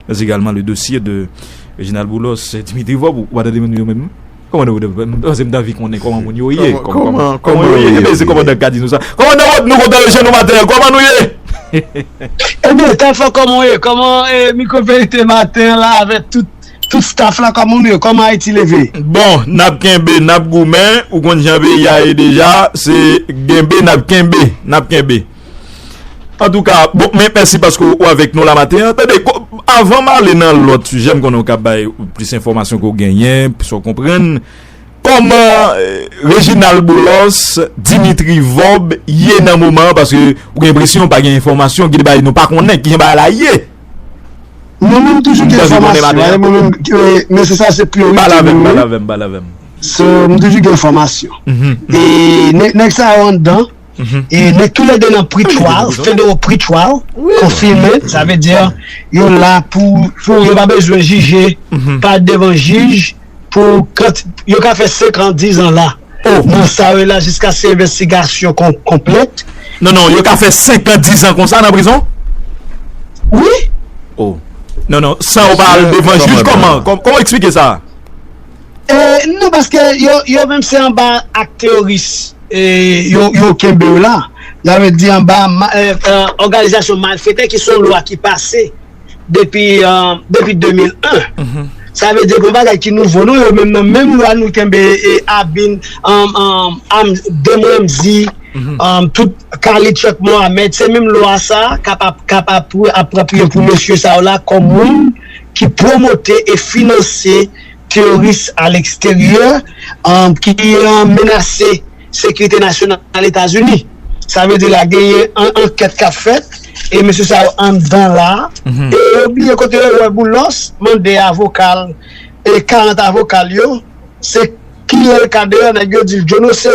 Mèsi galman le dosye de Reginald Boulos et Dimitri Vorbe ou pa tande moun yo menm kòman nou vle m panse m ta anvi konnen kòman moun yo ye kòman yo ye ebyen se kòmandan k ka di nou sa kòmandan Vorbe nou kontan wè je nou maten an kòman nou ye ebyen Tafa kòman w ye kòman Micro Verite maten an la avè tout tout staff la kòman nou ye kòman Ayiti leve bon n ap kenbe n ap goumen ou konn jan peyi a ye deja se genbe n ap kenbe n ap kenbe. Antouka, bon, men mèsi paske ou avèk nou la maten an. Tande, avan m ale nan lòt sijè, m konnen ou ka bay plis enfòmasyon ke ou genyen, plis ou konprann. Kòman Reginald Boulos, Dimitri Vob ye nan moman an? Paske ou gen enpresyon pa gen enfòmasyon, gen de bagay nou pa konnen. Kijan bagay la ye? Mwen menm toujou gen enfòmasyon. Mwen menm, men se sa se priorite. Pale avèm, pale avèm, pale avèm. Mwen toujou gen enfòmasyon. E, nèg sa yo anndan. E nou tou le 2 nan pre-trial, federal pre-trial, konfime, sa ve di, yo la pou, pou yo pa bezwen jije, pa devan jij, pou, yo ka fe 5 an, 10 an la, nan sa yo la, jiska se envestigasyon konplet. Non, non, yo ka fe 5 an, 10 an konsa nan prizon? Wi. Oh. Non, non, sa yo pa al devan jij, koman, koman eksplike sa? E, non, paske yo, yo menm se anba ak teoris. yo kenbe w la, sa vle di anba òganizasyon malfetè ki se yon lwa ki pase depi 2001, sa vle di se pa yon bagay ki nouvo non, yo menm nan menm lwa nou kenbe Abin, Don Ramzi, tout Khalid Chuck Mohamed, se menm lwa sa k ap apropriye pou mesye sa yo la kòm moun ki pwomote e finanse. teworis a leksteryè ki menase sekirite nasyonal Etazini. Sa vle di la genyen ankèt k ap fèt e mesye sa yo anndan la a. E yo bliye kote yo wè Boulos mande avoka l e 40 avoka l yo se kile l ka deyò nèg yo di l djonose.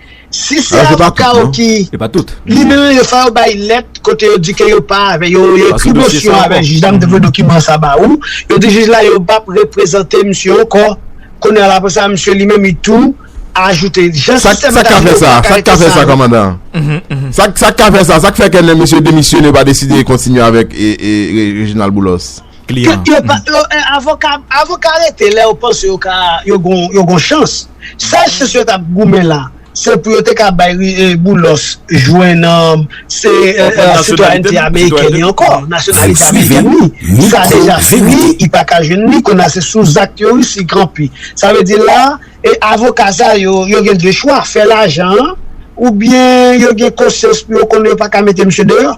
Si se avoka ou ki libere yo fò yo bay lèt kote yo di ke yo pa avè yo yo ekri mosyon avè jij la m te voye dokiman sa ba ou yo di jij la yo pap reprezante misye ankò kounye a la aprè sa misye li menm li tou ajoute jan sistèm sa ka fè sa sa k ka fè sa kòmandan sa k ka fè sa sa k fè ke lè misye demisyone yo pa deside kontinye avèk Reginald Boulos. kliyan an. Avoka rete lè yo panse yo gon chans. Sèl chans yo t ap goumen la, se pou yo te ka bay Boulos jwenn sitwayènte amerikèn li ankò, nasyonalite amerikèn li. Sa deja fini, li pa ka jwenn li. Kounye a, se sou zak teworis li kanpe. Sa vle di la, avoka sa yo, yo gen de chwa, fè lajan an oubyen yo gen konsyans pou yo konnen yo pa ka mete misye deyò.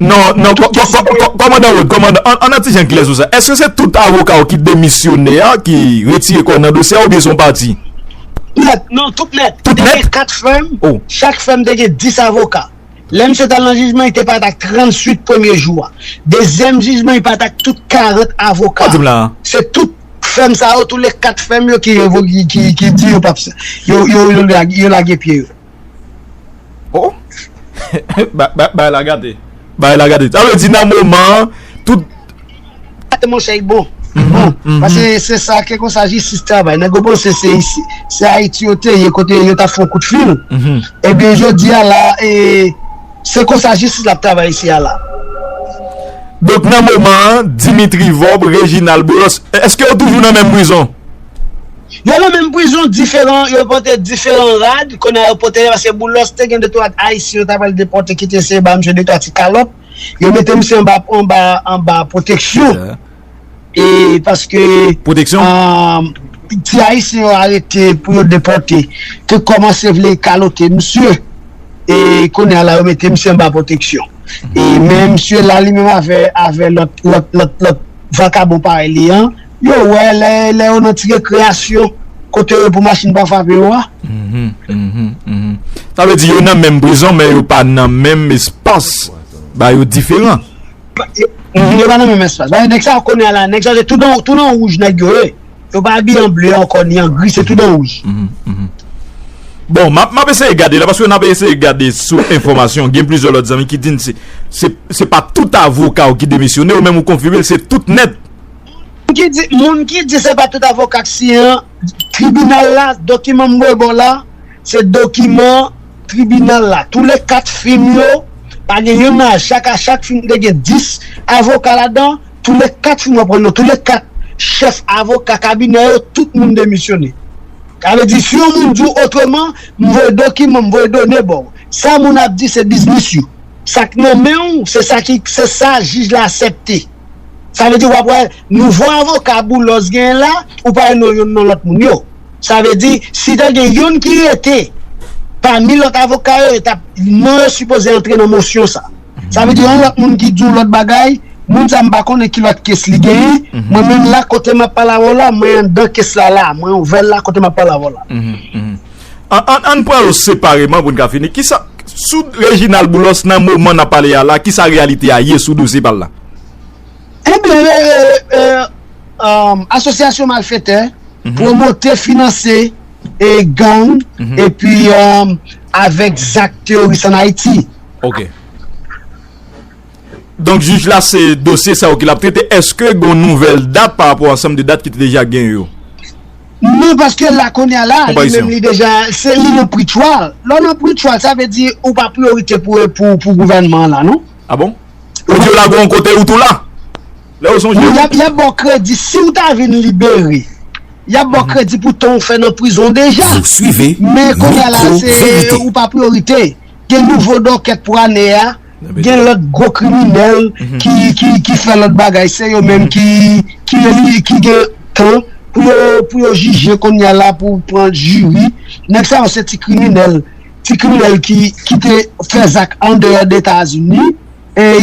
Non, non, kòmandan Rod, kòmandan, an an ti jan klè sou sa. Eske se tout avoka yo ki demisyone a, ki retire kò nan dosye a oubyen son pati? Nèt, non, tout nèt. Tout nèt? Te gen 4 fèm, chak fèm te gen 10 avoka. Lè misye t al nan jijman, li te pati ak 38 premye jou a. Dezyèm jijman, li pati ak tout 40 avoka. Sa w di m la a? Se tout fèm sa yo, tou le 4 fèm yo ki revoke, ki di yo p ap, yo lage pye yo. Oh! Bagay la gate. Bagay la gate. Sa vle di nan moman an, tout. Gate monchè y bon. Pase se sa ke konsa jistis travay. Nèg yo panse se isi, se Ayiti yo te ye kote yo ta fon kout fil. Ebyen jodi a la, se konsa jistis la ap travay isi a la. Donk nan moman an, Dimitri Vorbe, Reginald Boulos, eske yo toujou nan menm prizon? Yo nan menm prizon diferan yo pote diferan rad kounye a yo pote yo paske Boulos te gen 2 3 ayisyen yo ta pral depòte ki te eseye ba misye 2 3 ti kalòt yo mete misye anba anba anba pwoteksyon e paske ti ayisyen yo arete pou yo depòte te kòmanse vle kalote misye e kounye a la yo mete misye anba pwoteksyon e men misye la li menm avè avè lòt lòt lòt lòt vakabon parèy li an. yo wè lè yo nan ti rekreyasyon kote yo pou machin pa frape yo a. Sa vle di yo nan menm prizon men yo pa nan menm espas ba yo diferan. Yo pa nan menm espas. Nèg sa yo konnen a la, nèg sa yo se tout nan wouj nèg yo ye. Yo pa abiye an ble ankò ni an gri, se tout nan wouj. Bon, m ap eseye gade la, paske n ap eseye gade sou enfòmasyon, gen plizè lòt zanmi ki di n se pa tout avoka ou ki demisyone, ou menm ou konfime l se tout nèt. Moun ki di se pa tout avoka k siyen an, tribinal la, dokiman m voye ba w la, se dokiman tribinal la. Tou le 4 fim yo, pa gen youn nan chak, a chak fim te gen 10 avoka ladan, tou le 4 fim w ap wè yo, tou le 4 chèf avoka kabinè yo, tout moun demisyone. Sa vle di si yon moun di w otreman, m voye dokiman, m voye done ba w. Sa moun ap di se biznis yo. Sa k nan men w, se sa jij la asèpte. Sa vle di wap wè nouvo avoka boulos genyen la ou pa wè non youn non lòt moun yo. Sa vle di si ta gen youn ki rete pami lòt avoka yo yo tap non yo sipoze antre nan mosyon sa. Sa vle di yon lòt moun ki di yon lòt bagay moun sa mpa konnen ki lòt kes li genyen mwen menm la kote map pale avèw la mwen anndan kes la la mwen ouvèl la kote map pale avèw la. An n pran yo separeman pou n ka fini. Kisa, sou Reginald Boulos nan moman n ap pale a la, kisa reyalite a ye sou dosye pa l la? Ebyen, asosyasyon malfetè, pwomote, finanse gang epi avèk zak teworis an Ayiti. Ok. Donk jij la se dosye sa yo ke lap trete, eske gon nouvèl dat pa rapò ansanm de dat ki te deja genyen yo? Non paske la kounye a la li menm li deja se li nan pre-trial, lè w nan pre-trial sa vle di ou pa priyorite pou gouvènman an la non. A bon? Ou di yo lage w yon kote ou tou la? Lè yo sonje w? Y ap ba w kredi si w ta vin libere, y ap ba w kredi pou tan ou fè nan prizon deja. Men kounye a la se ou pa priyorite. Gen nouvo docket pou ane a, gen lot gwo kriminel ki fè lot bagay se yo menm ki gen tan pou yo jije konnya la pou pran jiri. Nèg sa yo se ti kriminel, ti kriminel ki te fè zak andeyò Etazini.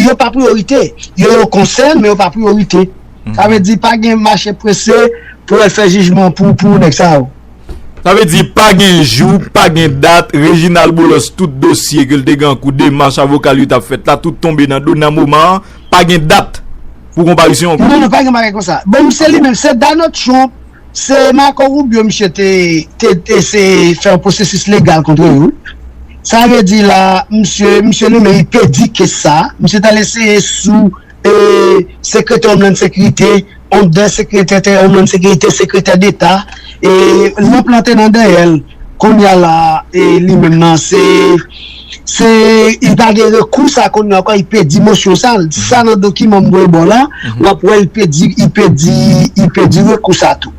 Yo pa priyorite. Yo yon konsèn, men yo pa priyorite. Sa vle di pa gen mache prese pou yo al fè jijman pou nèg sa yo. Sa vle di pa gen jou, pa gen dat, Reginald Boulos tout dosye ke l te gen an kou, demach avoka l yo t ap fèt la, tout tonbe nan do nan moman an, pa gen dat pou konparisyon ankò? Non, non, pa gen bagay konsa. Bon, se li menm, se Donald Trump. Se Marco Rubio misye te eseye fè yon pwosesis legal kontre yo wi. Sa vle di la misye, misye li menm li pèdi kes sa, misye t al eseye sou sekretè Homeland Securite, andan sekretète Homeland Securite, sekretè deta, e lanp lan te nan dèyè l. Kounya la li menm nan se. Se li pa gen rekou sa kounye ankò li pèdi mosyon sa l sa nan dokiman m voye ba w la w ap wè li pèdi li pèdi li pèdi rekou sa tou.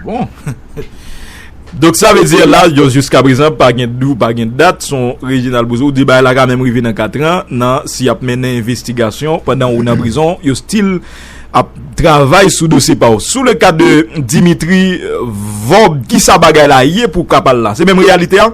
Bon Donk sa vle di la yo jiska prezan pa gen di ou pa gen dat son Reginald Bouzo ou di bagay la ka menm rive nan katran nan si y ap mennen envestigasyon pandan ou nan prizon yo stil ap travay sou dosye pa w sou le ka de Dimitri Vorbe ki sa bagay la ye pou w ka pale la se menm reyalite a?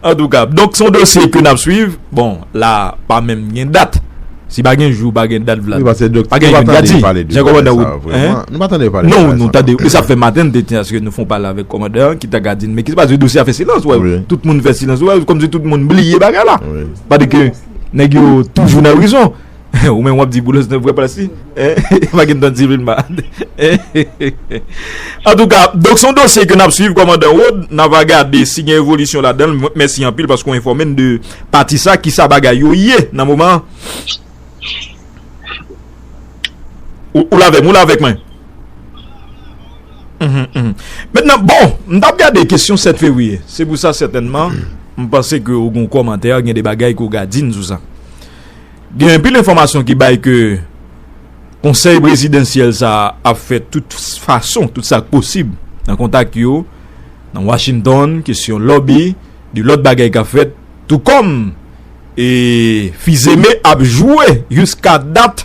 Antouka, donk son dosye ke nap swiv, bon la pa menm gen dat, si pa gen jou pa gen dat Vlad, pa gen yon dat di, jan komandan Wood, hein, non nou tande, e sa fè maten nou te di aske nou fon pale avèk komandan an ki ta ka di nou men kisa paske dosye a fè silans, ou wè, tout moun fè silans, ou wè, kòmsi tout moun bliye bagay la, pa di ke nèg yo toujou nan prizon. Ou menm wap di boulos nan vre plas li eeh pa gen tan di vin malad eeh antouka donk son dosye ke nap swiv kòmandan Rod na va gade si gen evolisyon ladanl mwen t mèsi anpil paske ou enfòme n de pati sa kisa bagay yo ye nan moman an ou la avèm ou la avèk mwen mètnan bon m tap gade kesyon 7 fevriye se pou sa sètènman m panse ke ou gon kòmantè gen de bagay ke ou ga di n sou sa. Gen anpil enfòmasyon ki bay ke konsèy prezidansyèl sa a ap fè tout fason, tout sa k posib nan kontak yo nan Washington, kesyon lòbi, gen lòt bagay k ap fèt tou kòm e Fils-Aimé ap jwe jiska dat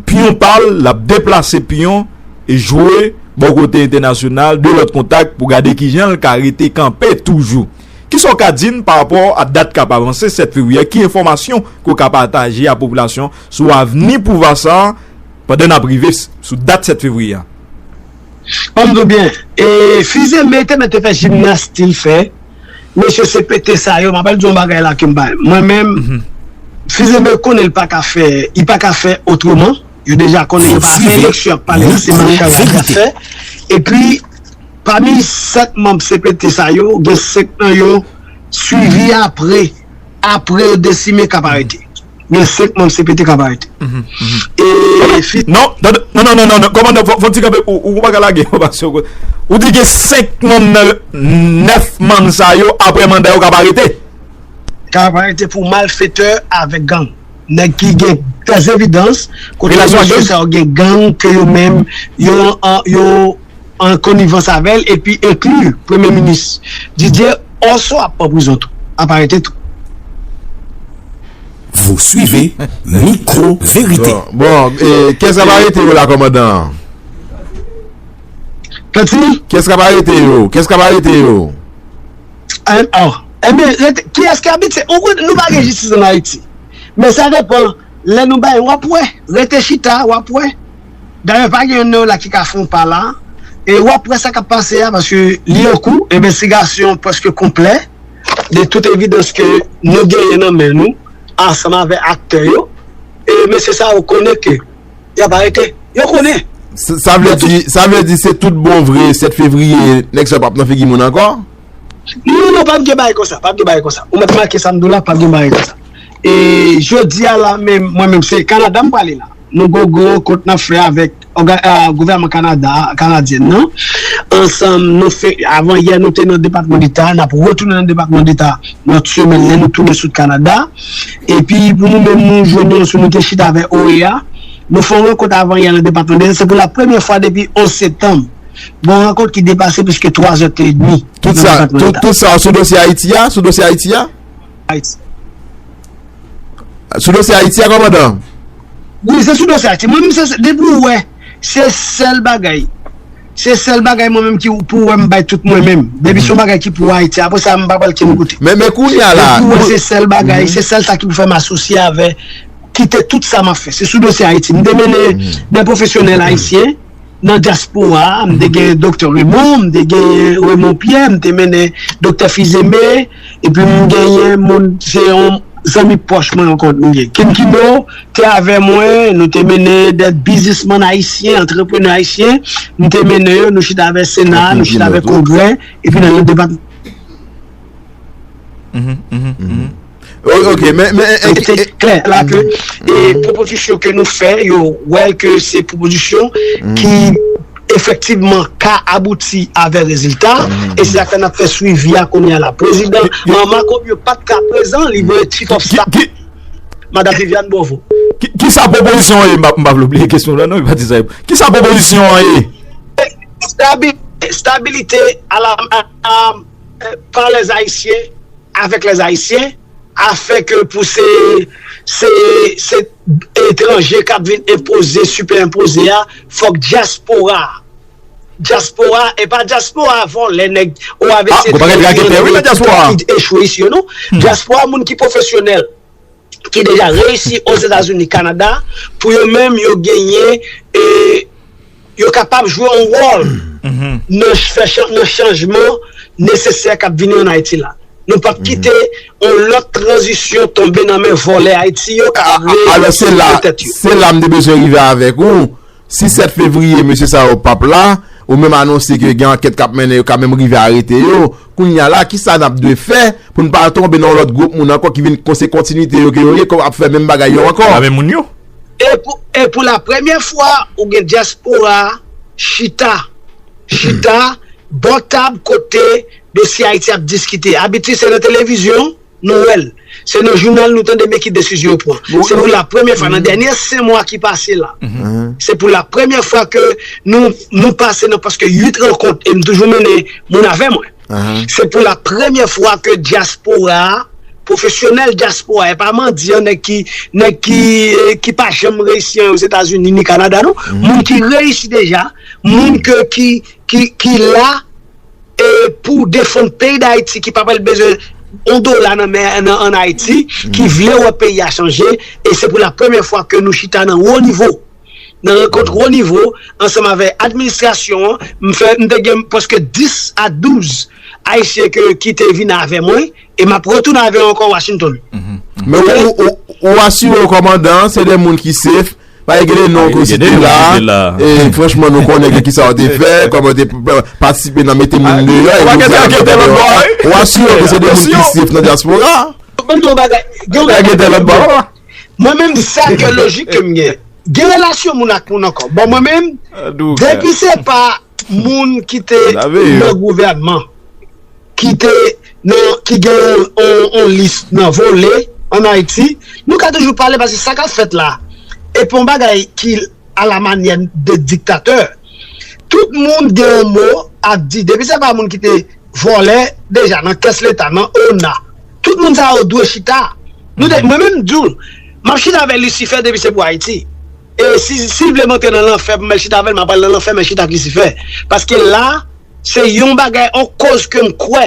piyon pa l, l ap deplase piyon e jwe bò kote entènasyonal, gen lòt kontak pou gade kijan l ka rete kanpe toujou. Kisa w ka di n pa rapò a dat k ap avanse 7 fevriye a? Ki enfòmasyon ke w ka pataje a popilasyon sou avni pouvwa sa a pandan n ap rive sou dat 7 fevriye a? An m di w byen, e fize men te mèt te fè jimnas ti l fè, mesye CPT sa yo, m apral di w yon bagay la ke m bay, mwen menm, fize men konnen l pa ka fè, li pa ka fè otreman, yo deja konnen yo pa fè eleksyon y ap pale la se machann y ap fè, epi. Pami 7 manb cpt sa yo, gen 5 nan yo swivi apre apre yo desime k ap arete. Gen 5 manb cpt k ap arete. E fi. Non, tande, non, non, non, kòmandan, fò w ti kanpe, ou pa ka lage enfòmasyon kon sa. Ou di gen 5 manm nan 9 manm sa yo apre manda yo k ap arete? K ap arete pou malfetè avèk gang. Nèg ki gen dèzevidans kote mesye sa yo gen gang ke yo menm yo. an konivans avè l epi enkli premye minis Didier Orso ap pran prizon tou, ap arete tou. Vous suivez Micro Vérité. Bon, kiyès kap arete yo la kòmandan? Pati? Kiyès kap arete yo? Kiyès kap arete yo? Annh, enben rete, kiyès ki abitye, ou konnen nou pa gen jistis an Ayiti. Men sa depan, lè nou bay wap wè, rete chita wap wè. Dayè pa gen youn nan yo la ki ka fon pa la e wap wè sa kap pase a paske li an kou envestigasyon preske konplè de tout evidans ke nou genyen nan men nou ansanm avè aktè yo e mesye sa yo konnen ke yap arete yo konnen. Sa vle di sa vle di se tout bon vre 7 fevriye nèg sa yo pap nan figi moun ankò? Non non pap gen bagay konsa pap gen bagay konsa ou mèt make sam diw la pap gen bagay konsa e jodi a la menm mwen menm se Canada m prale la. Nou gogo kont nap fè avèk gouvèman Kanada a, Kanadyen nan, ansanm nou fè, avan yè nou te nan depatman deta a, nap retounen nan depatman deta nan ti semèn lè nou tounen sot Kanada, epi pou nou menm nou jwenn yon sou nou te chita avè OEA, nou fè yon rankont avan yè nan depatman deta, se pou la premyè fwa depi 11 septanm, gon rankont ki depase pliske 3 zètedmi nan depatman deta. Tout sa sou dosye Ayiti a? Sou dosye Ayiti a? Ayiti. Sou dosye Ayiti a kòmandan? Wi se sou dosye Ayiti. Mwen menm se sèl, depi ou wè, se sèl bagay, se sèl bagay mwen menm ki pou ou wè m bay tout mwen menm. Depi se yon bagay ki pou Ayiti, apre sa m pa pral kenn kote. Men men kounye a la. Depi ou wè se sèl bagay, se sèl sa ki pou fè m asosye avè, kite tout sa m ap fè. Se sou dosye Ayiti. M te mennen de pwofesyonèl ayisyen. nan dyaspora a, m te gen Doktè Remon, m te gen Remon Pyè, m te mennen Doktè Fizeme, epi m genyen moun, se yon zanmi pwòch mwen ankò m gen. Kim Kino te avè mwen, nou te mennen dè biznismann ayisyen, antreprenè ayisyen, m te mennen yo, nou chita avè Sena, nou chita avè Kongrè, epi nan yon depatman. Ok, men, men, men, men, klè, la ke, e, pwopozisyon ke nou fè, yo, wè ke se pwopozisyon ki, efektivman, ka abouti avè rezilta, e se sa fè nap fè swivi a kounye a la. Prezidan, an Mako yo pat ka prezan, li voye chief of staff li, Madam Viviane Bovo. Ki sa pwopozisyon an ye? M pa vle bliye kesyon lan non, m pa di sa yo. Ki sa pwopozisyon an ye? Stabilite, stabilite, a la, a la. par les haïtiens avec les haïtiens afin que pou se se se etranje kap vin enpoze sipè enpoze a fòk dyaspora dyaspora epa dyaspora vòlè nèg oavc dyaspora moun ki pwofesyonèl. ki deja reyisi Ozetazini, Kanada, pou yo menm yo genyen e yo kapab jwe yon wòl nan fè nan chanjman nesesè k ap vini an Ayiti la. Nou p ap kite yon lòt tranzisyon tonbe nan men vòlè Ayiti yo k ap vle fè tèt yo. Alò se la m te bezwen rive avèk ou. Si 7 fevriye mesye sa yo pap la, ou menm anonse ke gen ankèt kap mennen yo ka menm rive arete yo, kounya la kisa nap dwe fè pou n pa tonbe nan yon lòt gwoup moun ankò ki vin se kontinite yo ke yo ye kòm ap fè menm bagay yo ankò. Nan menm moun yo. E pou la premyè fwa ou gen dyaspora chita, chita bò tab kote dosye Ayiti ap diskite. Abitid se nan televizyon. Noël, Se nan jounal nou tande men ki desizyon yo pran. Se pou la premyè fwa nan dènyè 5 mwa ki pase la. Se pou la premyè fwa ke nou nou pase nan prèske 8 rankont e m toujou mennen moun avè mwen. Se pou la premyè fwa ke dyaspora a, pwofesyonèl dyaspora a, e pa mandyan, nèg ki nèg ki ki pa janm reyisi anyen Ozetazini ni Kanada non. Moun ki reyisi deja, moun ke ki ki ki la. e pou defann peyi dayiti ki pa pral bezwen yon dola nan men an ayiti ki vle wè peyi a chanje e se pou la premye fwa ke nou chita nan wo nivo nan rankont wo nivo ansanm avè administrasyon an m fè m te gen preske 10 a 12 ayisyen ke ki te vin avè mwen e m ap retounen avè yo ankò washington ou asire yo kòmandan se de moun ki sef. Pa egele non kou site la, e franchman nou konnen gen ki sa ou te fè, kòman ou te patisipe nan mete moun de yo, ou asye ou se de moun ki sif nan diaspora. Mwen mwen bagay, gen mwen gen de lòt bò, mwen mwen mwen sa gen logik ke mwen gen, gen relasyon moun ak moun ankò, bon mwen mwen, depi se pa. moun ki te nan gouvènman ki te nan ki gen yon lis nan vole an Ayiti nou ka toujou pale paske sa kap fèt la epi yon bagay ki ala manyè de diktatè tout moun gen yon mo ap di depi se pa moun ki te vole deja nan kès leta nan ona tout moun sa yo dwe chita mwen menm m di w map chita avè lisifè depi se pou Ayiti. E si sil vle monte nan lanfè pou mèl chita avèl map pral nan lanfè mèl chita ak lisifè paske la se yon bagay on koz kem kwè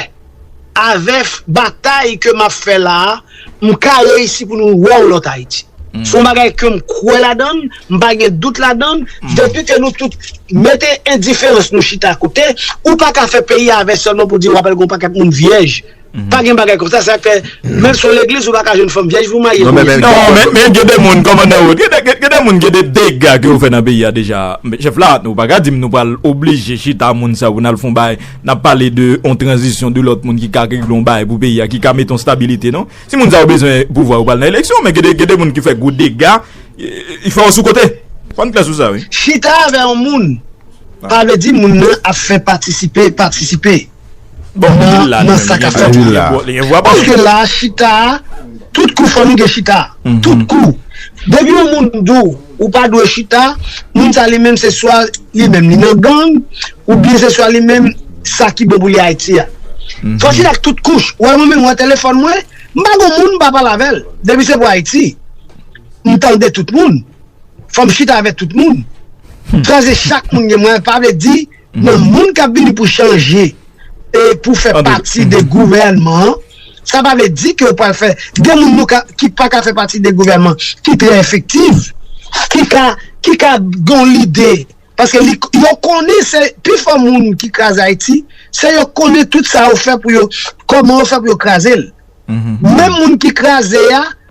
avèf batay ke map fè la mka reyisi pou nou wè on lòt ayiti son bagay kem kwè ladann mpa gen dout ladann depi ke nou tout mete endiferans nou chita kote ou paka fè peyi avè sèlman pou di wap al gon pakèt moun vyèj. Pa gen bagay konsa sak fè menm si w legliz ou paka jwenn fanm vyèj pou marye kounya. Non men gen de moun kòmandan Rod gen de moun gen de dega ke yo fè nan peyi a deja chèf la nou paka di m nou pral oblije chita moun sa pou n al fon bagay n ap pale de yon tranzisyon de lòt moun ki ka regle yon bagay pou peyi a ki ka mete yon stabilite non si moun sa yo bezwen pouvwa yo pral nan eleksyon men gen de moun ki fè gwo dega y fè yo sou kote fò n klè sou sa wi. Chita avè yon moun pa vle di moun nan ap fè patisipe patisipe. Bon nan nan sa ka fèt la paske la chita tout kou fanmi gen chita tout kou depi yon moun di w ou pa dwe chita moun sa li menm se swa li menm li nan gang ou byen se swa li menm sa ki bon pou li Ayiti a fò chita ak tout kouch wè mwen menm wè telefòn mwen m pa gen moun m pa pale avè l depi se pou Ayiti m tande tout moun fò m chita avè tout moun kraze chak moun gen mwen pa vle di nan moun kap vini pou chanje e pou fè pati de gouvènman an, sa pa vle di ke ou pral fè gen moun nou ka ki pa ka fè pati de gouvènman ki trè efektiv, ki ka ki ka gon lide paske li yo konnen se pi fò moun ki kraze Ayiti se yo konnen tout sa yo fè pou yo kòman yo fè pou yo kraze l menm moun ki kraze a.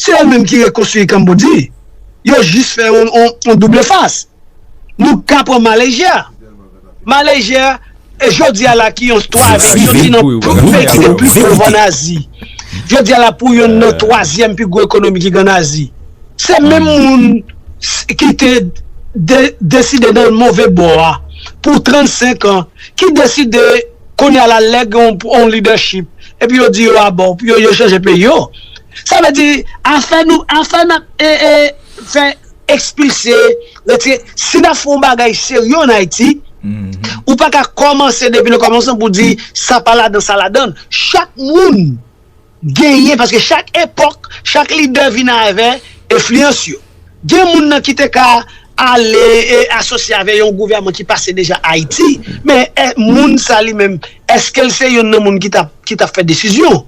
se yo menm ki rekonstwi Kambodji, yo jis fè yon double fas. Nou ka pran Malezya, Malezya jodi a la ki yon twazyèm, yon ti nan peyi ki te pli pov an Azi, jodi a la pou yon nan twazyèm pi gwo ekonomi ki gen an Azi. Se menm moun ki te deside nan move bò a pou 35 an, ki deside kounye a la lè gen yon lidèchip epi yo di yo abò, yo chanje peyi yo. Sa vle di afè nou afè nap e e fè ekspilse retire si nap fè yon bagay serye an Ayiti ou pa ka kòmanse depi nan kòmansman pou di sa pa ladan sa ladan chak moun genyen paske chak epòk chak lidè vin avè enfliyans yo gen moun nan ki te ka ale e asosye avè yon gouvèman ki pase deja Ayiti men e moun sa li menm eskel se yonn nan moun ki tap ki tap fè desizyon.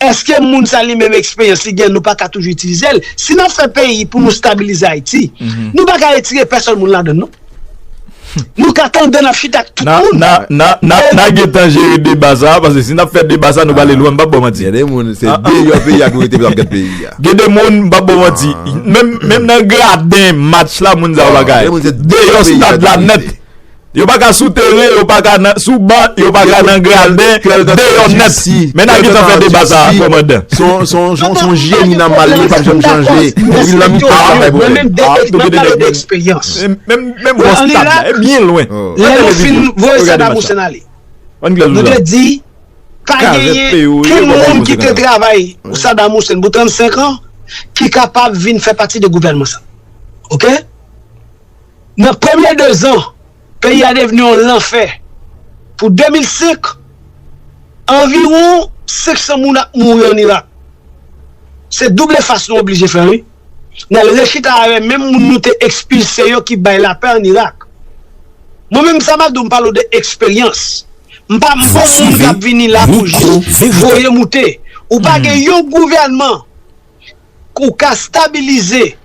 Eske moun sa li menm eksperyans li gen nou pa ka toujou itilizel si nap fè peyi pou nou stabilize ayiti nou pa ka retire pèsòn moun ladann non nou ka tande nap chita ak tout moun nan gentan jere deba sa paske si nap fè deba sa nou prale lwen m pap baw manti gen de moun se deyò peyi a pou yo te pou yo ap gad peyi a gen de moun m pap baw manti menm nan graden match la moun sa yo pa ka deyò stad la nèt. Yo pa ka sou teren, yo pa ka sou ban, yo pa ka nan graden, deyò nèt. Men nan ki sa fè deba sa a, kòmandan? Son jeni nan mal li, li pap janm chanje. Depi nan mitan an, li bay pwoblèm. Mwen menm map pale de eksperyans. Menm bòs tab la, e byen lwen. Lè nou fin voye sa Babou Sen ale, nou te di, pa genyen ken moun ki te travay pou Sadam Hussein pou 35 an ki kapab vin fè pati de gouvènman sa. Ok? Nan premye 2 zan, peyi a devni yon lanfè. Pou 2005, anviwon 500 moun ap mouri an Irak. Se doub efas nou oblije fè wi. N al rechita avè menm moun nou te ekspilse yo ki bay lapè an Irak. Mwen menm sa m a di w m pale w de eksperyans. M pa m bon moun k ap vini la pou jis voye moute. Ou pa gen yon gouvènman. Pou ka stabilize,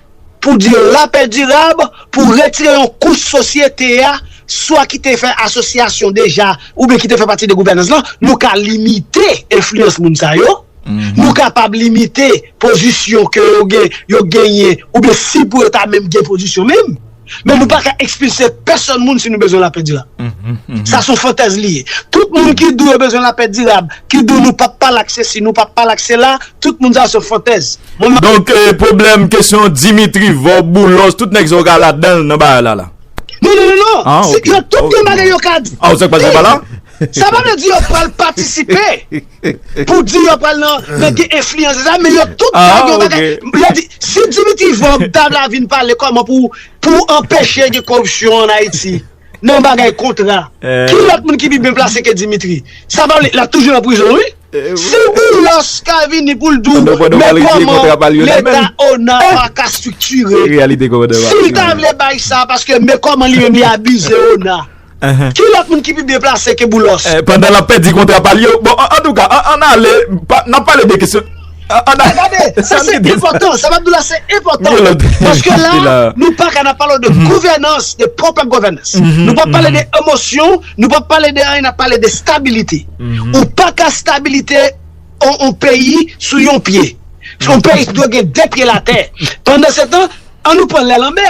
pou di yon lapè dirab, pou retire yon kouch sosyete a, swa ki te fè asosyasyon deja, oubyen ki te fè pati de gouvènans lan, nou ka limite enfliyans moun sa yo, nou kapab limite pozisyon ke yo gen, yo genyen, oubyen si pou yo ta menm gen pozisyon menm. Men nou pa ka ekspilse pèsòn moun si nou bezwen lapè dirab. Sa son fantèz li ye. Tout moun ki di yo bezwen lapè dirab, ki di nou pap pa lak sesi, nou pap pa lak sela, tout moun sa son fantèz. Donk pwoblèm kesyon Dimitri, Vob, Boulos, tout nèg sa yo ka ladan nan bagay la la? Non, non, non, non. Nan tout yon bagay yo ka di. Sa pa vle di yo pral patisipe. Pou di yo pral nan nan gen enfliyans de sa men yo tout ka gen bagay yo di si Dimitri vorbe ta la vin pale kòman pou pou anpeche gen koripsyon an ayiti nan bagay kontra ki lòt moun ki pi byen plase ke Dimitri sa pa vle lap toujou nan prizon wi si boulos ka vini poul di w men kòman leta ona paka striktire si l ta vle bay sa paske men kòman li menm li abize ona. Ki lòt moun ki pi byen plase ke Boulos? Pandan l ap pèdi kontra pa l yo. Bon, antouka, an n ale, n ap pale de kesyon. Gade, sa se enpòtan, sa m ap di w la se enpòtan. Paske la, nou pa ka n ap pale de gouvènans, de proper governance. Nou pa pale de emosyon, nou pa pale de anyen, n ap pale de stabilite. Ou pa ka stabilite yon peyi sou yon pye. Yon peyi dwe gen de pye latè. Pandan se tan, an nou pran lè lanmè.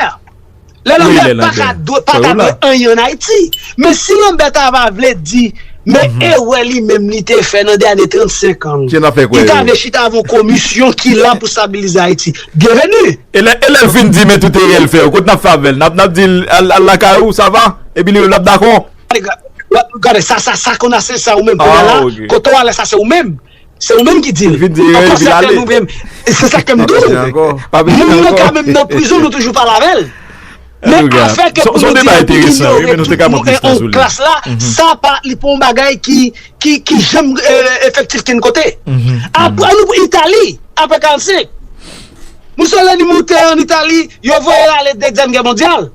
Lè Lambert paka dwe paka dwe anyen an Ayiti. Men si Lambert ta va vle di men erè li menm li te fè nan dènye 35 an. Kisa nap fè kwè yo? Li ta vle chita avon komisyon ki la pou stabilize Ayiti. Byenveni! E lè e lè l fin di men tout erè l fè yo kot nap fè avè l? Nap nap di l al al lakay ou sa va? Epi li menm lap dakò? Gade sa sa sa konn a se sa ou menm konn a la kote w a la sa se ou menm. Se ou menm ki dil. Anko sa fè nou menm. Se sa kem diw. Moun nan ka menm nan prizon nou toujou pale avèl. Men afè ke pou nou di epi inyore tout moun e on klas la, sa pa li pa yon bagay ki janm efektif kenn kote. An nou pran Itali, apre 45. Mussolini moute an Itali, yo voye l ale 2 zyèm gè mondyal.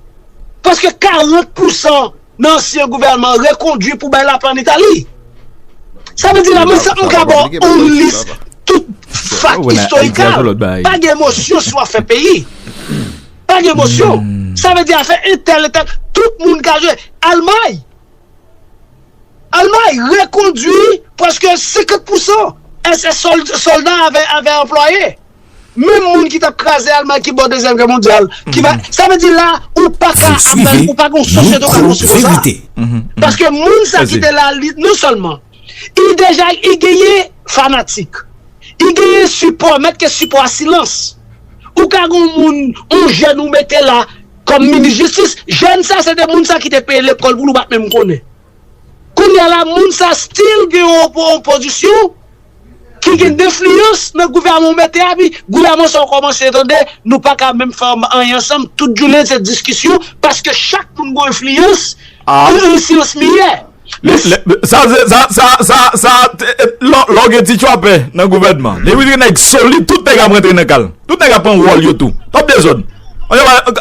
Prèske 40 pousan. nan ansyen gouvènman rekondwi pou bay lapè an Itali. Sa vle di la mwen sèlman ka ba w yon lis tout fakt istorikal. Pa gen emosyon sou afè peyi. Pa gen emosyon. Sa vle di afè entèl entèl. Tout moun ka jwe. Almay. Almay rekondwi preske 50% sè solda avè anplwaye. Menm moun ki tap kraze Almay ki bò dezyèm gè mondyal ki va sa vle di la ou pa ka ap bay ou pa gon sosyete ou ka konstwi konsa paske moun sa ki te la li non sèlman li deja li genyen fanatik li genyen sipò mèt ke sipò a silans ou ka gon moun yon jèn ou mete la kòm minis jistis jèn sa se te moun sa ki te peye lekòl pou l ou pat menm konnen. Kounya la moun sa still gen yon pozisyon ki gen denfliyans nan gouvèman ou mete a pi gouvèman sa ou kòmanse tande nou paka menm fè anyen ansanm tout jounen se diskisyon paske chak moun gon enfliyans an ensyans miyè sa lè ou gen ti tchwapè nan gouvèman depi gen nèg solid tout nèg ap rantre nan kal tout nèg ap pran wòl yo tou pap gen dezòd.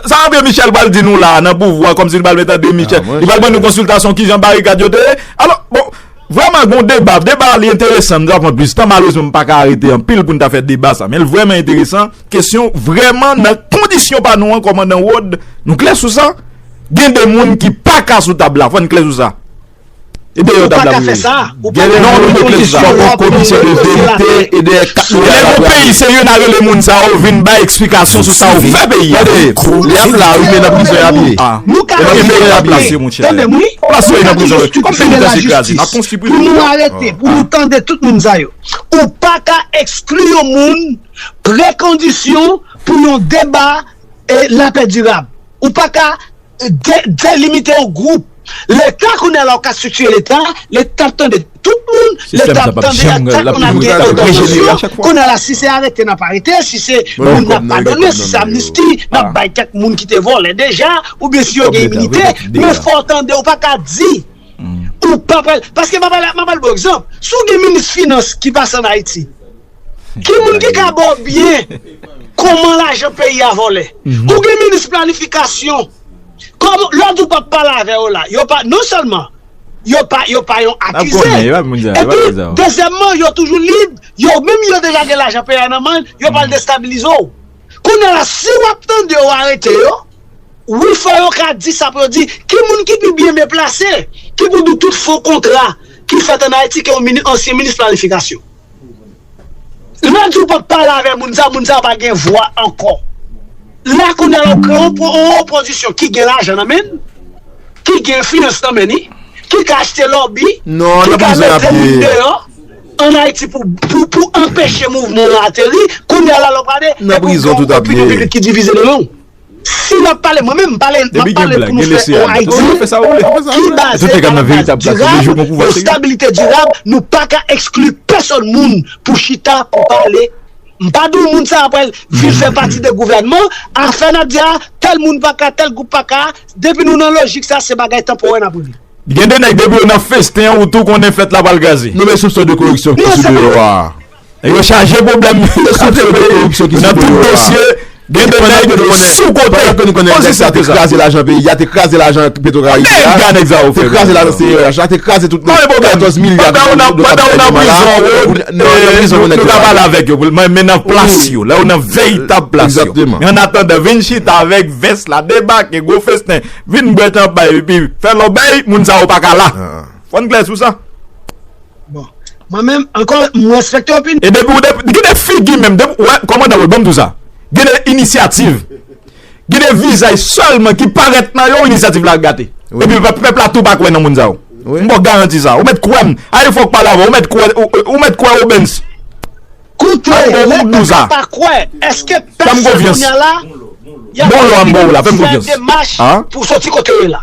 Sa André Michel pral di nou la nan pouvwa kòmsi li pral met André Michel li pral ban nou konsiltasyon kijan barikad yo te ye alò bon vrèman gon deba deba li enteresan m ta pran plis tan malrezman m paka rete anpil pou n ta fè deba sa men l vrèman enteresan kesyon vrèman nan kondisyon pa nou an kòmandan Rod nou klè sou sa gen de moun ki paka sou tab la fò n klè sou sa. Ou pa ka fè sa. Ou pa ka fè yon diskou wap yon moun se la. Lè yon peyi se yon a rele moun sa yo vin bay eksplikasyon sou sa yo fè peyi a. Nou ka rete. Tande m wi. Nou ka toujou stipifye la jistis. Pou nou arete. Pou nou tande tout moun sa yo. Ou pa ka ekskli yon moun prekondisyon pou yon deba lapè dirab. Ou pa ka. Delimite yon gwoup. Leta kounye a la ou ka stiktye leta, leta ap tande tout moun, leta ap tande a chak moun ap gen entèvansyon, kounye a la si se arete n ap arete, si se moun n ap padone, si se amnisti n ap bay kèk moun ki te vòlè deja, oubyen si yo gen iminite, men fò w tande ou pa ka di, ou pa pral, paske m ap ba l yon egzanp, si w gen minis finans ki pase an Ayiti. Ki moun ki ka baw byen koman lajan peyi a vòlè ou gen minis planifikasyon koman lè di ou pap pale avè yo la yo pa non sèlman yo pa yo pa yon akize epi dezyèmman yo toujou lib yo menm yo deja gen lajan peyi a nan men yo pral destabilize w kounye la si wap tande yo arete yo wi fò yo ka di sa pou yo di ki moun ki pi byen men plase ki pou di tout fo kontra ki fèt an ayiti ke yon ansyen minis planifikasyon. Lè di w pa pale avè moun sa, moun sa pa gen vwa ankò. La kounye a la ou pran yon opozisyon ki gen lajan nan men, ki gen enfliyans nan men li, ki ka achte lòbi, ki ka mete moun deyò an Ayiti pou anpeche mouvman an ateri, kounye a la lè w prale, epi w gen yon opinyon piblik ki divize nan men w. Si nap pale mwen menm m pale map pale pou nou fè yon Ayiti ki baze a la baz dirab yon stabilite dirab nou pa ka ekskli pèsòn moun pou chita pou pale m pa di w moun sa a pral vin fè pati de gouvènman afè nap di a tèl moun pa ka tèl gwoup pa ka depi nou nan lojik sa se bagay tanporè nap regle. Gen de nèg depi yo nan festen an ou tou konnen fèt la pral kraze. Nome sou sò de koreksyon ki sou biwo a. Yo chaje pwoblèm men yo sou kote yo. Nan tout dosye gen de nèg sou kote. Pandan ke nou konnen nèg sa te kraze lajan peyi a, te kraze lajan petro karibe a. Gade nèg sa yo fè. Te kraze lajan CRH la, te kraze tout nèg. 14 milya de dola. Pandan ou nan prizon Rod, nou ka pale avèk yo. Men nan plas yo. Lè ou nan veritab plas yo. Exactement. Men an atandan vin chita avèk vès la, debake, gwo festen, vin bwè chanpay epi fè lòbèy, moun sa yo pa ka la. Fò n klè sou sa. Bon Mwen menm ankò m respekte opinyon. Ebyen pou de gen de figi menm depi wè kòmandan wè banm di w sa gen de inisyativ gen de vizaj sèlman ki parèt nan yo inisyativ la gate epi pèp la tou pa kwè nan moun sa yo m ba w garanti sa ou mèt kwè m ayi fòk pale avè w ou mèt kwè ou mèt kwè obens koute lè pèp la pa kwè èske pèp sa kounya la y ap fè demach pou soti kote yo ye la.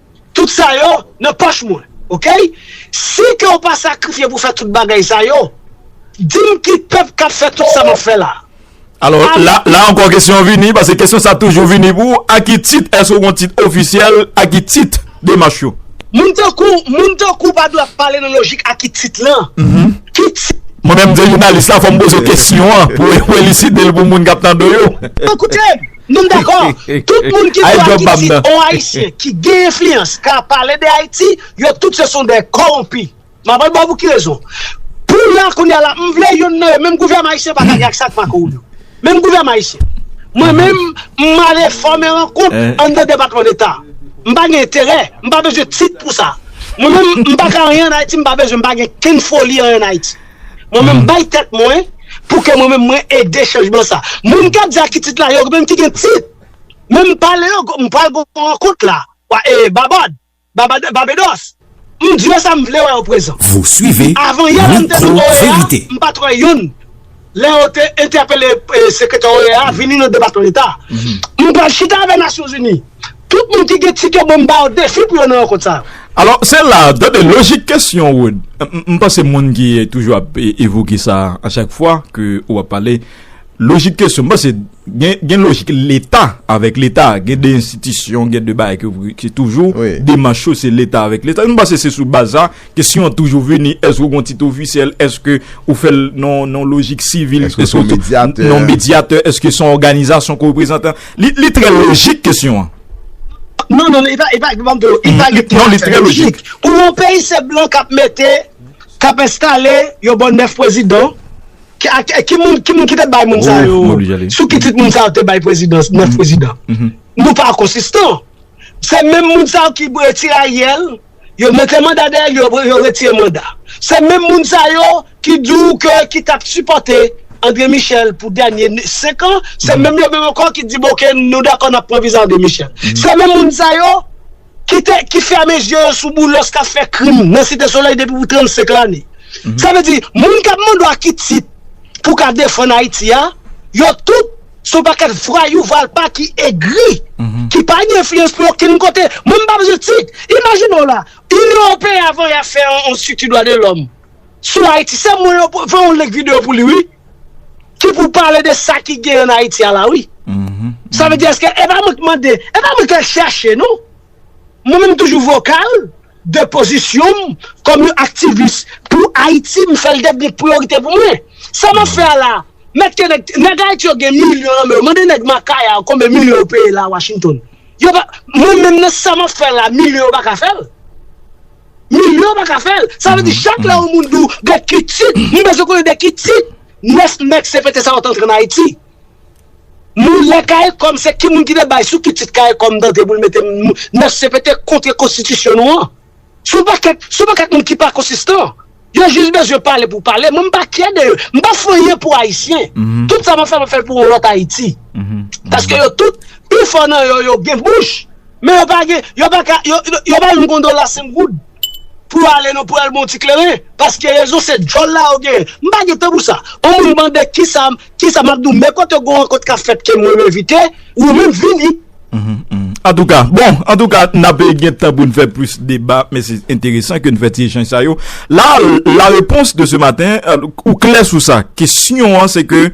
Tout sa yo nan pòch mwen ok si ke ou pa sakrifye pou fè tout bagay sa yo dim ki pèp kap fè tout sa map fè la. Alò la ankò kesyon an vini pase kesyon sa toujou vini pou ou a ki tit èske ou gon tit ofisyèl a ki tit demach yo. Moun tankou w moun tankou w pa dwe ap pale nan lojik a ki tit lan ki tit. Mwen menm m se jounalis la fòm poze kesyon an pou eliside l pou moun kap tande yo. Koute m. Nou m dakò, tout moun ki vwa ki di on ayisyen ki gen enfliyans ka pale de ayiti, yo tout se son de kowonpi. M ap al ba w pou ki rezon. Pou la kounye a la, m vle youn nan yo, menm gouvèman ayisyen pa ka gen aksè ak Marco Rubio. Menm gouvèman ayisyen. Mwen menm, m ale fòme rankont anndan depatman deta. M pa gen enterè, m pa bezwen tit pou sa. Mwen menm, m pa ka anyen an ayiti, m pa bezwen, m pa gen kenn foli anyen an ayiti. Mwen menm bay tèt mwen pou kè mwen menm mwen ede chanjman sa. Moun kap di akitit la yo menm ki gen tit menm pale yo m pral gon rankont la wa e babad babad babedos m di yo sa m vle wè yo prezan. Avan yè la m te nan OEA m pat wè youn lè yo te entèpele sekretè OEA vini nan depatman leta m pral chita avè nasyonzini. Tout moun ki gen tikè bon m ba yo defi pou yo nan rankont sa. Alò, se la, tande lojik kesyon Rod. M panse moun ki toujou ap evoke sa a chak fwa ke ou ap pale, lojik kesyon, m panse gen lojik leta avèk leta, gen de enstitisyon, gen de bagay ki toujou demach yo se leta avèk leta. M panse se sou baz sa kesyon an toujou vini, èske ou gon tit ofisyèl, èske ou fè l nan lojik sivil, èske ou se yon medyatè, èske se yon òganizasyon ke ou reprezante. Li trè lojik kesyon an. Non, non, li pa, li pa, li pa m di w, li pa li trè lojik. Non, li trè lojik. Pou yon peyi se blan k ap mete, k ap enstale yon bon 9 pwezidan, ki moun, ki moun ki te bay moun sa yo, sou ki tit moun sa yo te bay pwezidans, 9 pwezidan? Nou pa konsistan. Se menm moun sa yo ki bwe tiraryèl. Yo mete manda dèyè li yo yo retire manda. Se menm moun sa yo ki di w ke ki t ap sipòte André Michel pou dènye 5 an, se menm yo menm ankò ki di bon ok nou dakò n ap pran viza André Michel. Se menm moun sa yo ki te ki fèmen zye yo sou Boulos k ap fè krim nan Site Solèy depi pou 35 lane. Sa vle di moun k ap mande w a ki tit pou w ka defann Ayiti a yo tout Son paket vwayou valpa ki egri ki pa gen enfliyans pou okenn kote mwen m pa bezwen tit imajine w la inyon ewopeyen avan ya fè yon strikti dwa de lòm sou ayiti se mwen yo fè yon link video pou li wi ki pou pale de sa ki gen an ayiti a la wi sa vle di eske e pa mwen k mande e pa mwen k al chache non mwen menm toujou vokal. De pozisyon m kòm yon aktivis pou Ayiti, m fè l devni yon priyorite pou mwen. Sa m ap fè a la a? Mèt ke nèg, nèg Ayiti yo gen milyon nan men yo, mande nèg Makaya yo konbe milyon yo peye la a Washington. Yo pa, mwen menm nan sa m ap fè la a, milyon yo pa ka fè l. Milyon yo pa ka fè l. Sa vle di chak lè yon moun di w de ki tit, m bezwen konnen de ki tit 9 mèk CPT sa yo te antre an Ayiti. Moun la karikom se ki moun ki te bay sou ki tit karikom tante pou l mete moun nan cpt kontre konstitisyon nou an se yon pakèt se yon pakèt moun ki pa konsistan yo jis bezwen pale pou pale mwen m pa kyè de yo m pa fè anyen pou ayisyen tout sa m ap fè m ap fè l pou yon lòt ayiti paske yo tout pi fò nan yo yo gen bouch men yo pa gen yo pa ka yo yo pa yon gondola 5 goud pou yo ale nan pou yo al bon ti kleren paske rezon se djòl la yo genyen m pa gen tan pou sa on moun mande kisa Kisa map diw men kote gon rankont kap fèt ke mwen envite ou menm vini. Antouka bon antouka nap gentan poun fè plis deba men se enteresan ke nou fè ti echanj sa yo la la repons de se maten ou klè sou sa kesyon an se ke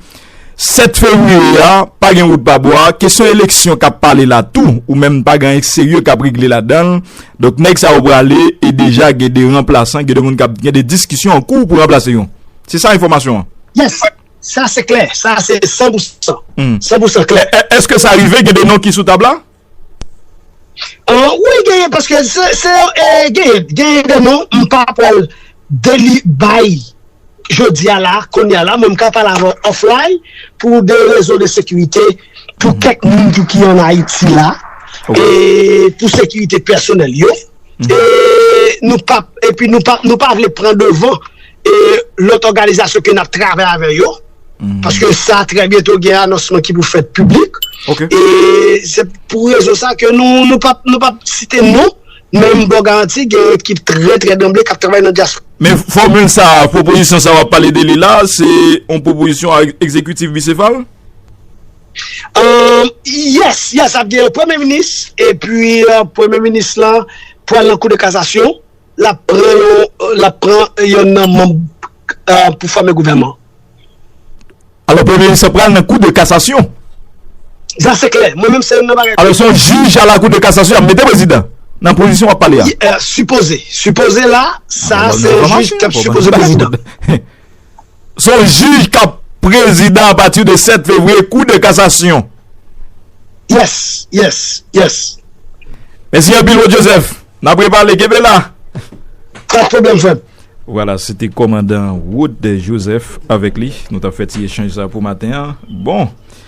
7 fevrier a pa gen wout pa bwa kesyon eleksyon kap pale la tou ou menm pa gen anyen serye kap regle la dan donk nèg sa yo prale e deja gen de ranplasan gen de moun kap gen de diskisyon an kou pou ranplase yo se sa enfòmasyon an. Yes. Sa se klè, sa se san pou san, san pou san klè. Eske sa rive gen de non ki sou tab la? Wi genyen, paske se genyen, genyen de non, m pa pral deli bay jodi a la, kounye a la, men m ka pale avè w offline pou de rezon de sekirite pou kèk moun tou ki an Ayiti la, e pou sekirite pèsonèl yo, e nou pa, epi nou pa vle pran devan. e lòt òganizasyon ke nap travay avè yo, paske sa trè byento gen anonsman ki pou fèt piblik, e se pou rezon sa ke nou pap site non, men m baw garanti gen yon ekip trè trè danble kap travay nan dyaspora. Men fòmil sa, pwopozisyon sa wap pale de li la, se yon pwopozisyon ekzekitif bisefal? Yes, yes, ap gen yon premye minis, epi premye minis la pral nan kou de kazasyon. l ap pran yon l ap pran yonn nan manb pou fòme gouvènman. Alò premye minis lan pral nan kou de kasasyon. Sa se klè, mwen menm se yonn nan bagay. Alò se yon jij a la kou de kasasyon y ap mete prezidan nan pozisyon w ap pale a. Sipoze, sipoze la sa se yon jij k ap sipoze prezidan. Son jij kap prezidan a pati de 7 fevriye kou de kasasyon. Yes, yes, yes. Mesi anpil Rod Joseph. Nap repale, kenbe la. Pas problem frem. Wala, se te komandan Rod Joseph avek li. Nou tap fe ti echanj sa pou maten an. Bon.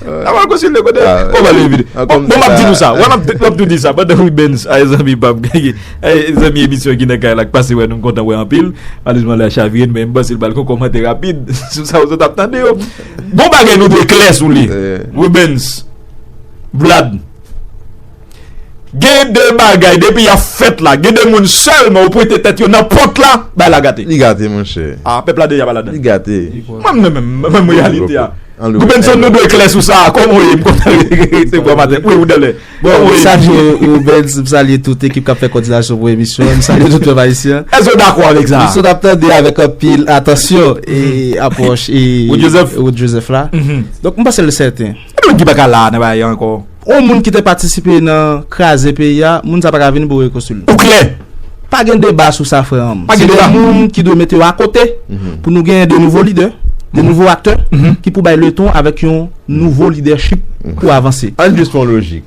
A wè kòsi lè kote Kò wè lè vide Bon m ap di nou sa Wè m ap tou di sa Pandan w benz A e zanmi pa m Gagè A e zanmi emisyon ki nan kay la K pase wè nou m kontan wè anpil Malerizman lè a chavire n Men m panse l pral gen yon kòmantè rapid Sou sa w sot ap tande yo Bon bagay nou dwe klè sou li Wè benz Vlad. Gen de bagay depi yap fèt la gen de moun sèlman ou pwente tèt yo nan pòt la bagay la gate. Li gate monchè. Ah pèp la deja pa ladann. Li gate. Mwen menm menm menm reyalite a. Goubenson nou dwe klè sou sa kòman ou ye m kontan rete bwa maten wi ou dèlè. Bon m salye ou Rubens m salye tout ekip kap fè kòdinasyon pou emisyon an m salye tout pèp ayisyen. Èske w dakò avèk sa? Misye nap tande avèk anpil atansyon e apwòch e Rod Joseph la. Donk m panse l sèten. Epi moun ki pa ka la nan bagay an ankò. Yon moun ki te patisipe nan kraze peyi a, moun sa pa ka vin boure kostil. Ou klè! Pa gen deba sou sa frè an. Se de moun ki dwe mete yo a kote pou nou genyen de nouvo lidè, de nouvo aktè ki pou bay leton avèk yon nouvo lidèchip pou avanse. Ann jis fè yon lojik.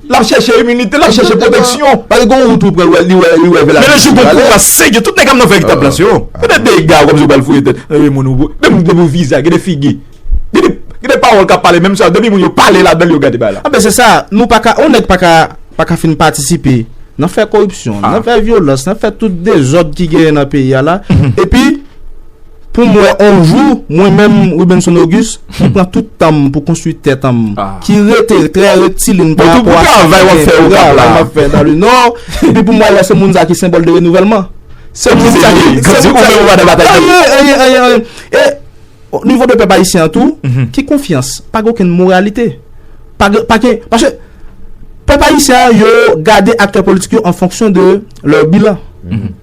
Lap chèche iminite, lap chèche pwoteksyon. Pase gon wout ou pran, li wè, li wè vè la. Menm jou gon kou a sège, tout nèg ap nan fè ekta plas yo. Yo te de egare kòm si yo pral fouye tèt. Nan de moun ou, menm depi ou viza, gen de figi. Gen de, gen de pawòl kap pale menm sa, depi moun yo pale ladan l yo gade bagay la. Anben se sa, nou pa ka, yon nèg pa ka, pa ka fin patisipe nan fè koripsyon, nan fè vyolans, nan fè tout dezòd ki genyen nan peyi a la. Epi. Pou m wè on jou, mwen menm Rubenson Auguste, ki pran tout tan m pou konstwi tèt an m, ki rete trè rektilin pa rapò a sa mwen gen, pou travay m ap fè nan le nò, epi pou m wè lè se moun sa ki senbòl de renouvèlman. Se moun sa ki. Ou di ou menm ou pa nan batay pèp. Anyen, anyen, anyen, anyen. E o nivo de pèp ayisyen an tou, ki konfyans? Pa gen okenn moralite. Pa gen, pa gen, paske pèp ayisyen an yo gade aktè politik yo an fonksyon de lè bilan.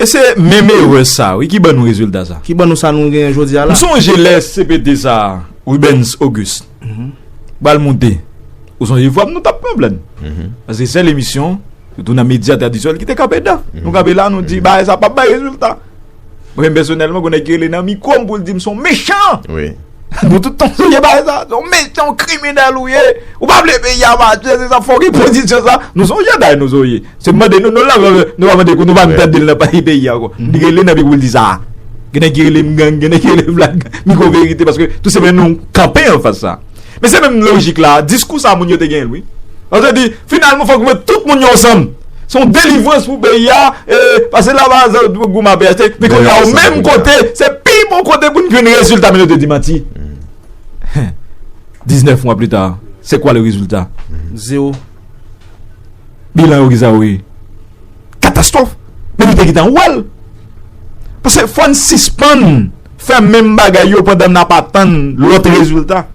E se menm erè sa wi ki ban nou rezilta sa. Ki ban nou sa nou genyen jodi a la. M sonje lè CPT sa a, Rubens Auguste, pral moute, ou sonje vwa m nou t ap pwoblèm. Paske sèl emisyon, sitou nan medya tradisyonèl ki te kanpe dan. Nou kanpe la nou di bagay sa a pap bay rezilta. Mwen menm pèsonèlman gon nèg ki rele nan mikwo m pou l di m s on mechan! Nou tout nou sonje bagay sa a. S on mechan, on kriminèl ou ye. Ou pa vle peyi a mache, se sa fòk epozisyon sa. Nou s on jèday nou s on ye. Se mande nou nou la vè vè. Nou pa mande kou nou pa vle tande l nan pale peyi a ankò. Li rele nan mikwo pou l di sa a. Gen nèg ki rele m gang, gen nèg ki rele m black gang. Mikwo verite paske tou se men nou kanpe anfas sa a. Men se menm lojik la, diskou sa moun yo te genyen wi. Yo te di, finalman fòk nou met tout moun yo ansanm. Se yon delivrans pou peyi a, e pase lavalas ak gwoup goumen ap achte. Men kounye a yo menm kote, se pi bon kote pou n jwenn rezilta men yo te di manti. 19 mwa pli ta, se kwa le rezilta? Zewo. Bilan yo kisa yo ye? Katastwòf men nou te gentan wèl Pase fòn sispann fè menm bagay yo pandan nap atann lòt rezilta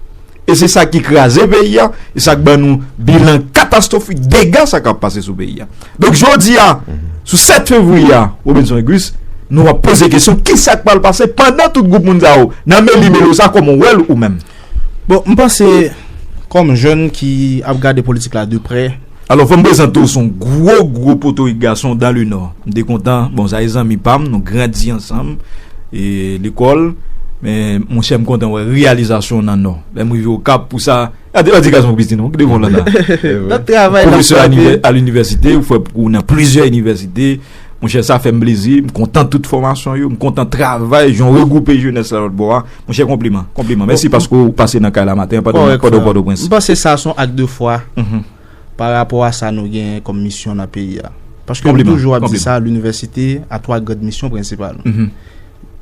e se sa ki kraze peyi a e sak ban nou bilan katastwofik dega sa kap pase sou peyi a donk jodi a sou 7 fevriye a Robinson et Guys nou ap poze kesyon kisak pral pase pandan tout gwoup moun sa yo nan meli melo sa kòman ou wèl ou menm. Bon m panse kòm jèn ki ap gade politik la de prè. Alò fòm prezante w son gwo gwo potorik gason dan le nò m te kontan bon sa e zanmi pam nou grandi ansanm lekòl men monchè m kontan wè reyalizasyon w nan nò lè m rive okap pou sa gade ladi gason piti non gade bon lala pwofesè a linivèsite ou fè pou nan plizyè inivèsite monchè sa fèm plezi m kontan tout fòmasyon yo m kontan travay jan w regwoupe jenès la lòtbò a. Monchè konpliman, konpliman. Mèsi paske ou pase nan kay la maten an pandan ou pa nan Pòtoprens. M panse sa son ak de fwa pa rapò a sa nou genyen kòm misyon nan peyi a. Paske m toujou ap di sa, linivèsite a 3 grand misyon prensipal.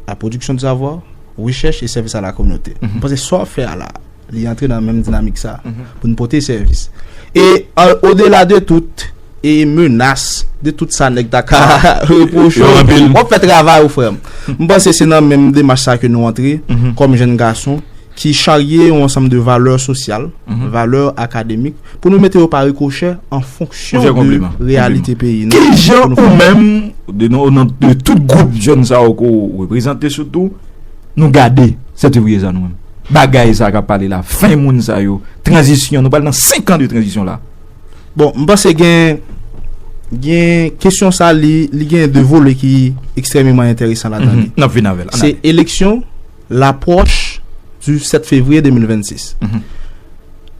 La pwodiksyon de savoir, rechèch e sèvis a la kominote. M panse sa w ap fè a la a. Li antre nan menm dinamik sa a pou n pote sèvis. E odela de tout e menas, de tout sa nèg ta ka repwoche w, w ap fè travay ou frè m. M panse se nan menm demach sa ke nou antre kòm jenn gason ki charye yon ansanm de valè sosyal, valè akademik pou nou mete yo pa rikochè an fonksyon de reyalite peyi nou. Ki jan ou menm, o non de tout gwoup jenn sa yo ke w reprezante sitou, Nou gade sètevriye sa nou menm bagay sa kap pale la fen moun sa yo tranzisyon nou pral nan 5 an de tranzisyon la. Bon m panse gen gen kesyon sa li li gen de vole ki ekstrememan enteresan la dan li. Nap vin avèl an ale. Se eleksyon laproch du 7 fevriye 2026.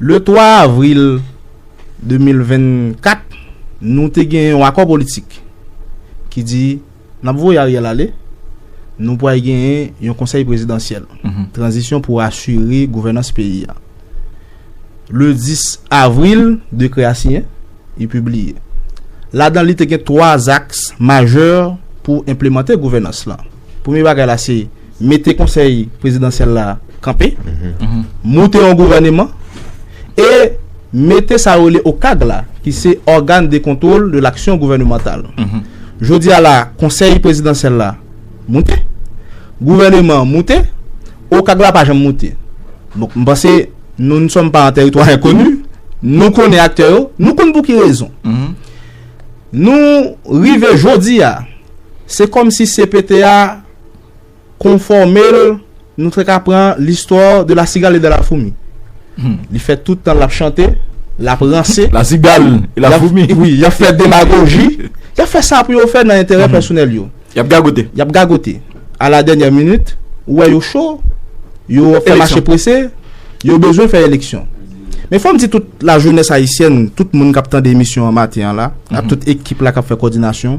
Le 3 avril 2024 nou te gen yon akò politik ki di. Nap voye Ariel ale, nou pway genyen yon konsèy prezidansyèl tranzisyon pou asire gouvènans peyi a. Le 10 avril, dekrè a siyen, li pibliye. Ladan li te gen 3 aks majè pou enplemante gouvènans lan. Premye bagay la se. mete konsèy prezidansyèl la kanpe, moute yon gouvèneman e mete sa yo rele OCAG la ki se Organe de Contrôle de l'Action Gouvernementale. Jodi a la a, konsèy prezidansyèl la moute, gouvèneman an moute, OCAG la pa janm moute. Donk m panse nou n sòm pa an tèritwa enkoni, nou konnen aktè yo, nou konn pou ki rezon. Nou rive jodi a, se kòm si cpt a. konfòme l, nou fèk apran l'histoire de la cigale et de la fourmi. Li fè tout tan l ap chante, l ap ranse. La cigale et la fourmi. Wi, y ap fè demagoji. Y ap fè sa pou yo fè nan enterè pèsonèl yo. Y ap gagote. Y ap gagote. A la dènyè minit, ou wè yo cho, yo fè mache prese, yo bezwen fè eleksyon. Men fò m di tout la jenès ayisyèn, tout moun k ap tande emisyon an maten an la, ak tout ekip la k ap fè kòdinasyon,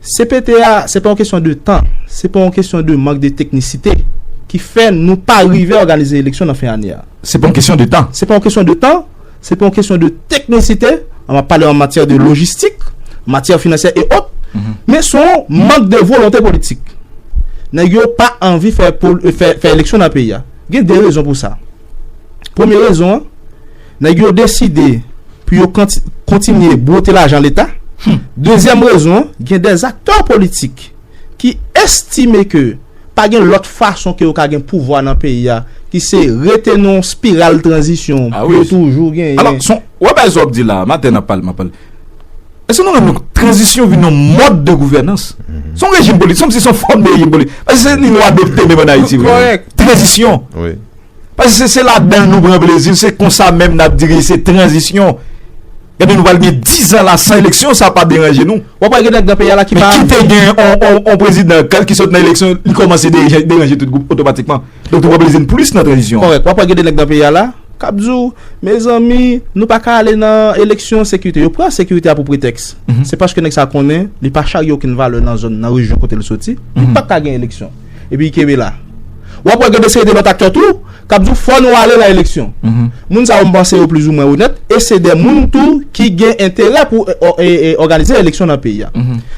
CPT a, se pa yon kesyon de tan, se pa yon kesyon de mank de teknisite ki fè nou pa rive òganize eleksyon nan fen ane a. Se pa yon kesyon de tan. Se pa yon kesyon de tan, se pa yon kesyon de teknisite, an map pale an matyè de lojistik, matyè finansyè e ot, men se yon mank de volonte politik. Nèg yo pa anvi fè eleksyon nan peyi a. Gen 2 rezon pou sa. Premye rezon an. Nèg yo deside pou yo kontinye bwote lajan leta. Dezyèm rezon, gen dè aktè politik ki estime ke pa gen lòt fason ke yo ka gen pouvwa nan peyi a ki se rete nan yon spiral tranzisyon pou yo toujou genyen. Ou wè bagay sa wap di la, maten nap pale, map pale. Eske nou renmen ke tranzisyon vin yon mòd de gouvènans? Se yon rejim politik, se kòmsi se yon fòm de rejim politik. Paske se li nou adopte menm an Ayiti. Tranzisyon. Paske se se ladanl nou pran plezi, se konsa menm nap di ke se tranzisyon. Gade nou pral gen 10 ans la san eleksyon, sa pa deranje nou. Wap wè gen nèg nan peyi a la ki pa. Men kite gen yon prezidan kal ki sot nan eleksyon, li komanse deranje tout gwoup otomatikman. Donk nou pran plezi nou plis nan tranzisyon. Kòrèk, wap wè gen de nèg nan peyi a la kap di w, mezanmi nou pa ka ale nan eleksyon, sekirite. Yo pran sekirite a pou pretèks. Se paske nèg sa konnen li pa charye okenn valè nan zòn, nan rejyon kote li soti, li pap ka gen eleksyon. Epi kenbe la. Wap wè gen de seri de lòt aktè tou kap di w fò nou ale nan eleksyon. Moun sa yo m panse yo plizoumwen onèt e se de moun tou ki gen enterè pou òganize eleksyon nan peyi a.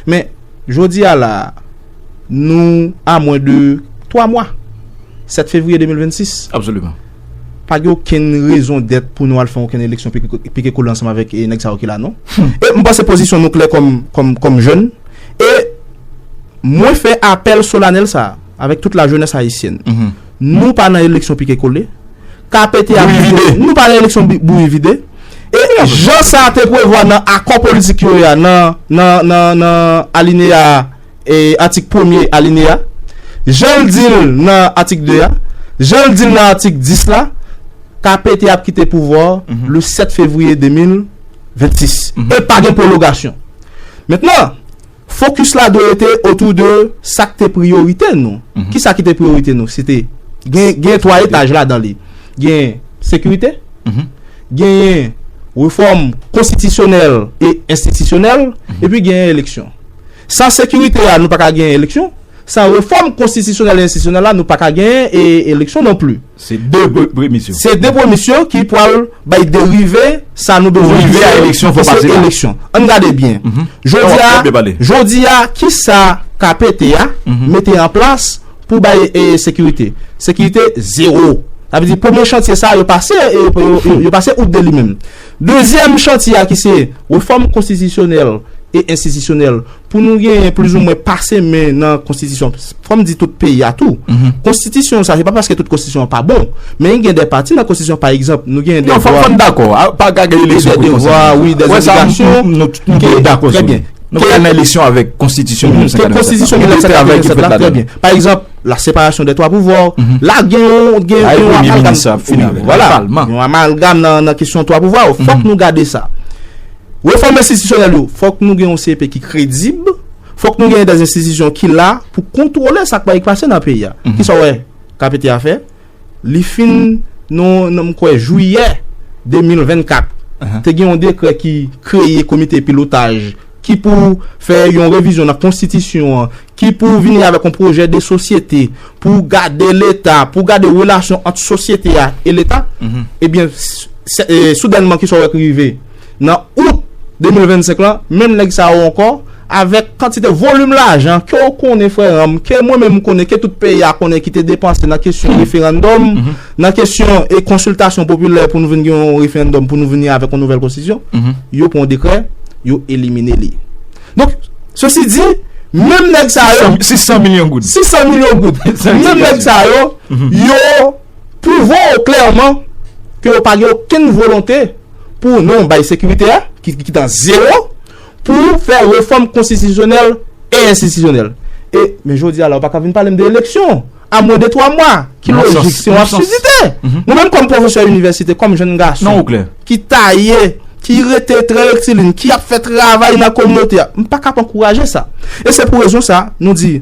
Men, jodi a la a, nou a mwen de 3 mwa, 7 fevriye 2026. Absoliman. Pa gen okenn rezon dèt pou nou al fè okenn eleksyon pike kole ansanm avèk nèg sa yo ki la non. E m panse pozisyon nou klè kòm jèn e. Mwen fè apèl solanèl sa a avèk tout lajenès ayisyèn. Nou pa nan eleksyon pike kole. KPT ap vide. Nou pa nan eleksyon bouyi vide. E jan sa te prevwa nan akò politik yo a nan alineya atik premye alineya, jan l di l nan atik 2 a, jan l di l nan atik 10 la, KPT ap kite pouvwa a le 7 fevriye 2026. E pa gen pwologasyon. Mentnan. Focus la dwe rete autour de sa k te priorite nou. Ki sa ki te priorite nou? Se te gen gen 3 etaj ladan li. Gen sekirite, genyen refòm konstitisyonèl e enstitisyonèl, epi genyen eleksyon. San sekirite a nou pa ka genyen eleksyon, san refòm konstitisyonèl e enstitisyonèl la nou pa ka genyen eleksyon non pli. Se 2 premis yo. Se 2 premis yo ki pwal bay derive sa nou bezwen. Pou rive a eleksyon fò pase la. Ann gade byen. Jodi a ki sa KPT a mete an plas pou bay sekirite. Sekirite zero. Sa vle di premye chantye sa yo pase yo pase out de li menm. Dezyèm chantye a ki se refòm konstitisyonèl e enstitisyonèl. pou nou genyen plizoumwen pase men nan konstitisyon, fò m di tout peyi a tou, konstitisyon sa, se pa paske tout konstitisyon pa bon, men gen de pati nan konstitisyon, pa egzanp, nou gen de vwa, de devwa, wi, de obligasyon, ke, trè byen, ke konstitisyon 1987 la, trè byen, pa egzanp, la separasyon de 3 pouvwa, la gen yon, gen yon amalgam, gen yon amalgam nan kesyon 3 pouvwa, fòk nou gade sa. Refòm enstitisyonèl yo, fòk nou gen yon CEP ki kredib, fòk nou genyen dè enstitisyon ki la pou kontwole sa k bay pase nan peyi a. Ki sa w wè KPT a fè? Li fin nan m kwè jwiyè 2024, te gen yon dekrè ki kreye komite pilotaj ki pou fè yon revizyon nan konstitisyon an, ki pou vini avèk yon pwojè de sosyete pou gade leta, pou gade relasyon ant sosyete a e leta, ebyen soudènman ki sa w wè ki rive? Nan out 2025 lan, menm nèg sa yo ankò, avèk kantite volim lajan ke w konnen frè ranm, ke mwen menm m konnen, ke tout peyi a konnen ki te depanse nan kesyon referandòm, nan kesyon e konsiltasyon popilè pou nou vin gen yon referandòm pou nou vini avèk yon nouvèl konstitisyon, yo pran yon dekrè, yo elimine li. Donk, sosi di, menm nèg sa yo. 600 milyon goud. 600 milyon goud. Menm nèg sa yo, yo pwouve ou klèman ke yo pa gen okenn volonte pou nou bay sekirite a, ki tan zewo, pou fè refòm konstitisyonèl e enstitisyonèl. E, men jodi a la, ou pa ka vin pale m de eleksyon. a mwen de 3 mwa ki lojik se yon absidite mwen menm kòm pwofesè inivèsite kòm jenn gason ki taye ki rete trè rektilin ki ap fè travay nan kominote a m pa k ap ankouraje sa e se pou rezon sa nou di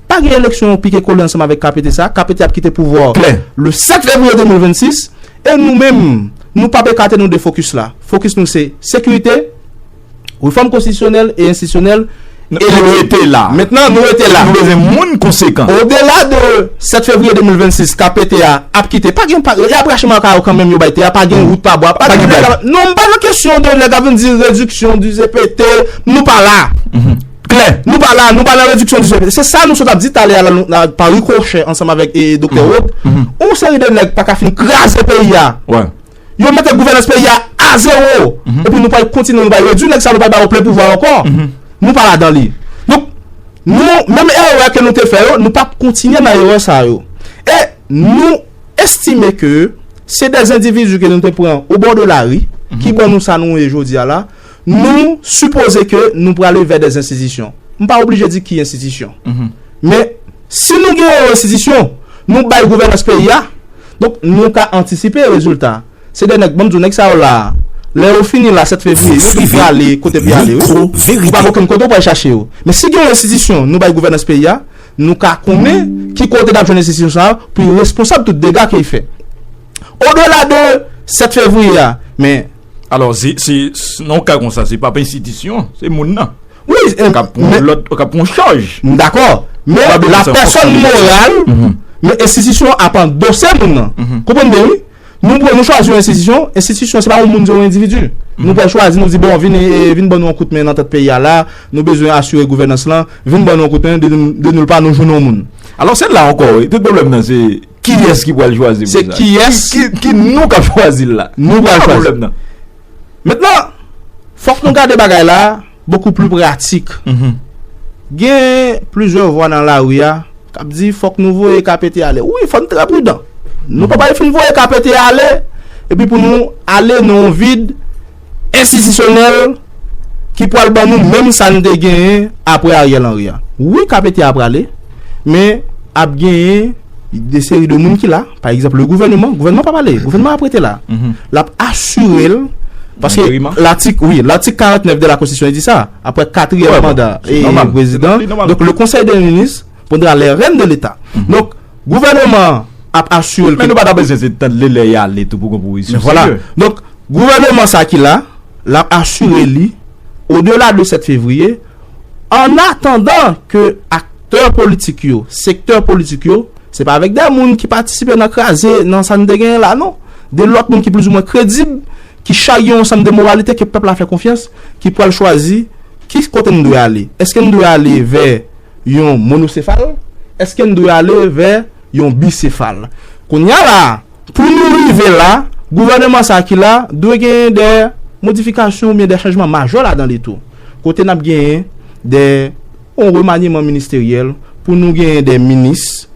pa gen eleksyon yon pike kole ansanm avèk KPT sa KPT ap kite pouvwa a le 7 fevriye 2026 e nou menm nou p ap ekate nou de fokis la fokis nou se sekirite. Refòm konstitisyonèl e enstitisyonèl e Nou rete la. Mentnan nou rete la. Nou bezwen moun konsekan. Odela de 7 fevriye 2026 KP te a ap kite pa gen pa gen yap rache maka yo kanmenm yo bay te a pa gen wout pa bwa pa gen blag. Non m pa nan kesyon de nèg ap vin di rediksyon di CPT nou pa la. Klè. Nou pa la nou pa nan rediksyon di CPT se sa nou sot ap di talè a la pa rikòchè ansanm avèk Doktè Rod yon seri de nèg pa ka fin kraze peyi a. Yo mete gouvènans peyi a a zewo epi nou pral kontinye nou bay yo di nèg sa yo nou pral ba yo plen pouvwa ankò. Nou pa ladan li. Donk, nou, menm erè ke nou te fè yo, nou pa p kontinye nan erè sa yo. E nou estime ke se de endividi ke nou te pran obò de lari ki ban nou sa nou ye jodi a la. Nou sipoze ke nou prale vè des enstitisyon. M pa oblije di ki enstitisyon. Men, si nou gen yon enstitisyon, nou bay gouvènans peyi a, donk nou ka antisipe rezilta. Se de nèg, banm di w, nèg sa yo la a, lè yo fini la 7 fevriye, yo tou prale kote pou y ale wi. Ou pa gen okenn kote ou pral chache yo. Men si gen yon enstitisyon nou bay gouvènans peyi a, nou ka konnen ki kote n ap jwenn enstitisyon sa a pou y responsab tout dega ke y fè. O dela de 7 fevriye a, men. Alò, se nan ka kon sa, se pa pensitisyon, se moun nan. Ou ka pon chaj. M dakò, men la pèson moral, men enstitisyon ap an dosè moun nan. Konpon m byen, wi? Nou pwè nou chwazi yon enstitisyon, enstitisyon se pa yon moun, se yon endividu. Nou pwè chwazi, nou di, bon, vin ban nou an kout men nan tèt peyi a la, nou bezwen asure gouvènans lan, vin ban nou an kout men, de nou l pa nou joun yon moun. Alò, se la ankò, wi, tout pwoblèm nan se. Kiyès ki pral chwazi pou sa? Se kiyès? Ki nou k ap chwazi l la? Nou pral chwazi. Ki sa pwoblèm nan? Mentnan, fòk nou gade bagay la bokou pli pratik. Gen plizyè vwa nan lari a k ap di fòk nou voye ka pete ale. Wi, fò n trè pridan. Nou pa pral fin voye ka pete ale epi pou nou ale nan yon vid. Enstitisyonèl ki pwal ban nou menm sa n te genyen apre Ariel Henry a. Wi KPT a prale, men ap genyen de seri de moun ki la, pa egzanp le gouvèneman, gouvèneman pap ale, gouvèneman ap rete la. L ap asire l, paske latik, wi, latik 49 de la konstitisyon di sa, apre katriyèm manda prezidan, donk le konsèy de minis, Prendra les rènes de l'Etat. Donk, gouvèneman an ap asire l ke. Men nou pa ta bezwen se tann li lè y ale tou pou gon pwopozisyon serye. Vwala. Donk, gouvèneman sa ki la, l ap asire li, odela de 7 fevriye, ann atandan ke aktè politik yo, sektè politik yo, se pa avèk de moun ki patisipe nan kraze, nan sa n te genyen la non. De lòt moun ki plizoumwen kredib, ki charye yon ansanm de moralite ke pèp la fè konfyans, ki pral chwazi ki kote n dwe ale. Eske n dwe ale vè. yon monosefal, èske n dwe ale vè yon bisefal? Kounye a la a, pou nou rive la, gouvèneman sa a ki la dwe genyen dè modifikasyon oubyen dè chanjman majè ladan li tou. Kote n ap genyen dè yon remanyeman ministeryèl pou nou genyen dè minis,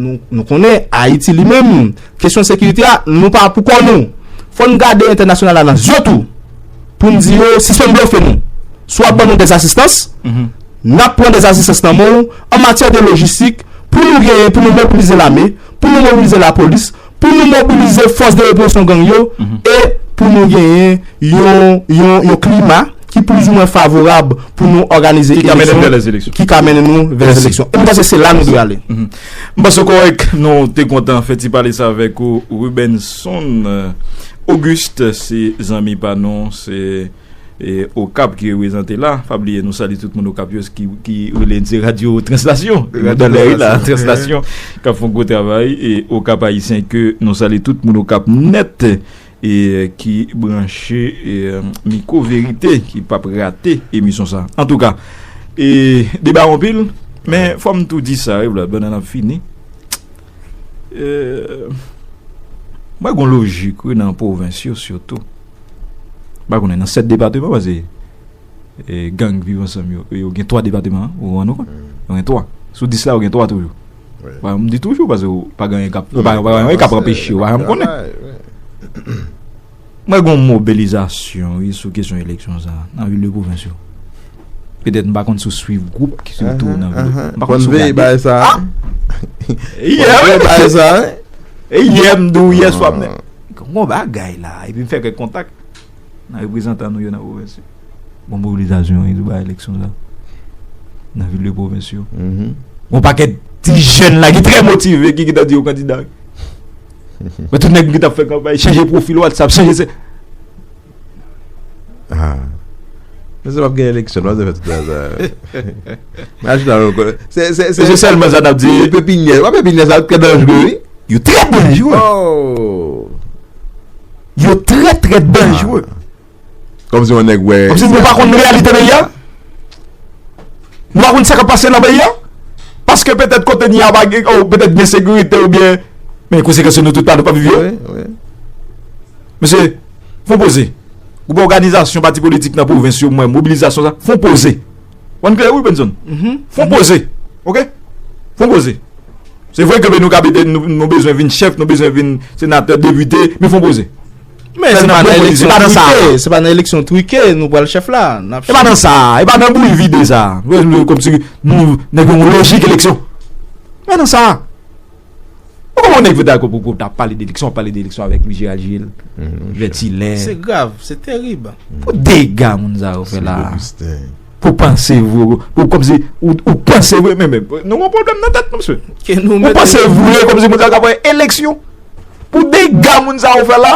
Nou konnen Ayiti li menm, kesyon sekirite a, nou pa pou kò nou. Fò n gade entènasyonal la nan zye tou pou n di yo sispann blofe nou. Si w ap ban nou dèz asistans, n ap pran dèz asistans nan men w an matyè de lojistik pou nou genyen pou nou mobilize lame, pou nou mobilize lapolis. pou nou mobilize fòs de represyon gang yo e pou nou genyen yon klima ki plizoumwen favorab pou nou òganize eleksyon, ki ka mennen nou vè lè eleksyon. E mwen panse se la nou dwe ale. Mwen panse ou kòrèk. Nou te kontan fè ti pale sa avèk ou Rubenson Auguste, se zanmi pa nou. Okap ki reprezante la, pa bliye nou salye tout moun Okap yo ki rele n se radyo translasyon, translasyon k ap fè yon gwo travay e Okap Ayisyen ke nou salye tout moun Okap nèt e ki branche Miko Verite ki p ap rate emisyon sa a. Antouka, deba anpil men fò m tou di sa, banana fini. Mwen wè gon lojik wi nan pwovens yo sitou. M pa konnen nan 7 depateman paske gang viv ansanm yo, yo gen 3 depateman ou rann ou kont. Yo gen 3. Sou 10 la yo gen 3 toujou. M di toujou paske ou pa gen anyen k ap anpeche ou pa janm konnen. M wè gon mobilizasyon wi sou kesyon eleksyon sa nan vil de pwovens yo. Petèt m pa konn si w swiv gwoup ki sou tou nan vil. M pa konn si w gade. Bon veye bay sa. Bon veye bay sa. E yè m di w yè swa m. Gon bagay la. E pi m fè kèk kontak nan reprezantan nou yo nan pwovens yo. Gon mobilizasyon wi sou bagay eleksyon sa nan vil de pwovens yo. Gon pakèt ti jèn la ki trè motive ki gin tan di yo kandida wi. Mwen tout nèg m ki tap fè kanpay chanje profil whatsapp chanje se Haa Mwen se pap gen eleksyon non se fè tout sa Mwen ajoute la mwen konnen Se se se Se sèlman sa nap di Pepinyè wap pepinyè sa trè danjre wi Yo trè danjre Yo trè trè danjre Kom si yon neg we. Kom si nou pa konn reyalite peyi a. Nou pa konn sa kap pase nan peyi a. Paske petet kote ni a pa gen ou petet gen sekirite ou byen. Men kou se kese nou tout pa nou pa vivi yo. Wi, wi. Mesye, fon poze. Ou pa oganizasyon pati politik nan pou vens yo mwen mobilizasyon sa. Fon poze. Wan kle ou Benson. Fon poze. Ok? Fon poze. Se vwe ke be nou ka bete nou bezwen vin chef, nou bezwen vin senate, devite, men fon poze. Men se pa nan eleksyon trike, se pa nan eleksyon trike nou pral chèf la. E pa nan sa, e pa nan bouyi vide sa. Kom si nou nèk yon lojik eleksyon. E pa nan sa. Ou kon moun nèk vèta kòp pou ta pale de eleksyon, pale de eleksyon avèk M. Gérald Gilles, Vètilè. Se grav, se terib. Pou dega moun sa yo fè la. Pou panse vre ou kom si ou panse vre men men nou gon problem nan tet nou mesye. Ou panse vre kom si moun sa yo ka fè eleksyon. Pou dega moun sa yo fè la.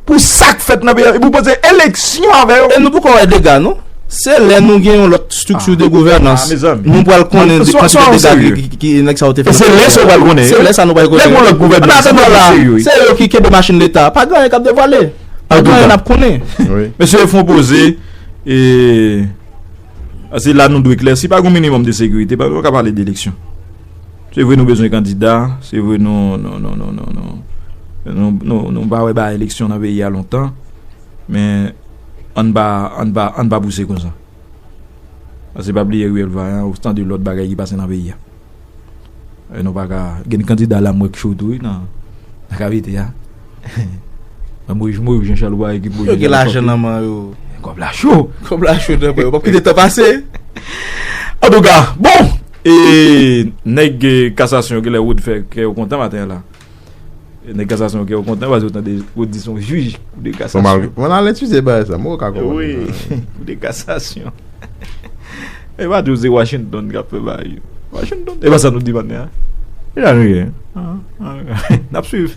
Pou sak fèt nan peyi a. Pou panse eleksyon avè yo. E nou poko wè dega nou. Se lè nou gen yon lot strukture de gouvernance. Nou pral konnen de kont de dega ki nèg sa yo te fè. Se lè sa nou pral konnen. Se lè sa nou pral konnen. Lè kon lot gouvernance. An la se yo ki kebe machine leta. Pa gen yon kap de vale. Pa gen yon kap konnen. Mesye fon poze. E se la nou dwe klè, si pa gen yon minimum de sekirite, pa nou ka pale de eleksyon. Se vre nou bezwen kandida, se vre nou nou pa wè ba eleksyon nan peyi a lontan, men an nou pa pouse konsa. Ase pa bliye Ruel Vaillant ou tan de lòt bagay ki pase nan peyi a. Nou paka gen kandida la mwen k cho tou wi nan akavite a nan moyiz mwen ou jan chal ou pa ekip mwen yo gen lajan nan man yo kòb la cho kòb la cho nan mwen yo pap kite tan pase an tou ka bon e nèg kasasyon gen lè ou t fè kè yo kontan maten an la. Nèg kasasyon yo kè yo kontan paske yo tande yo di son jij kou de kasasyon. Mwen al etidye bagay sa, mwen wè ka konprann. Wi, kou de kasasyon. E pa di w se Washington k ap fè bagay yo. Washington, e pa sa nou di maten an. E sa nou ye? N ap swiv.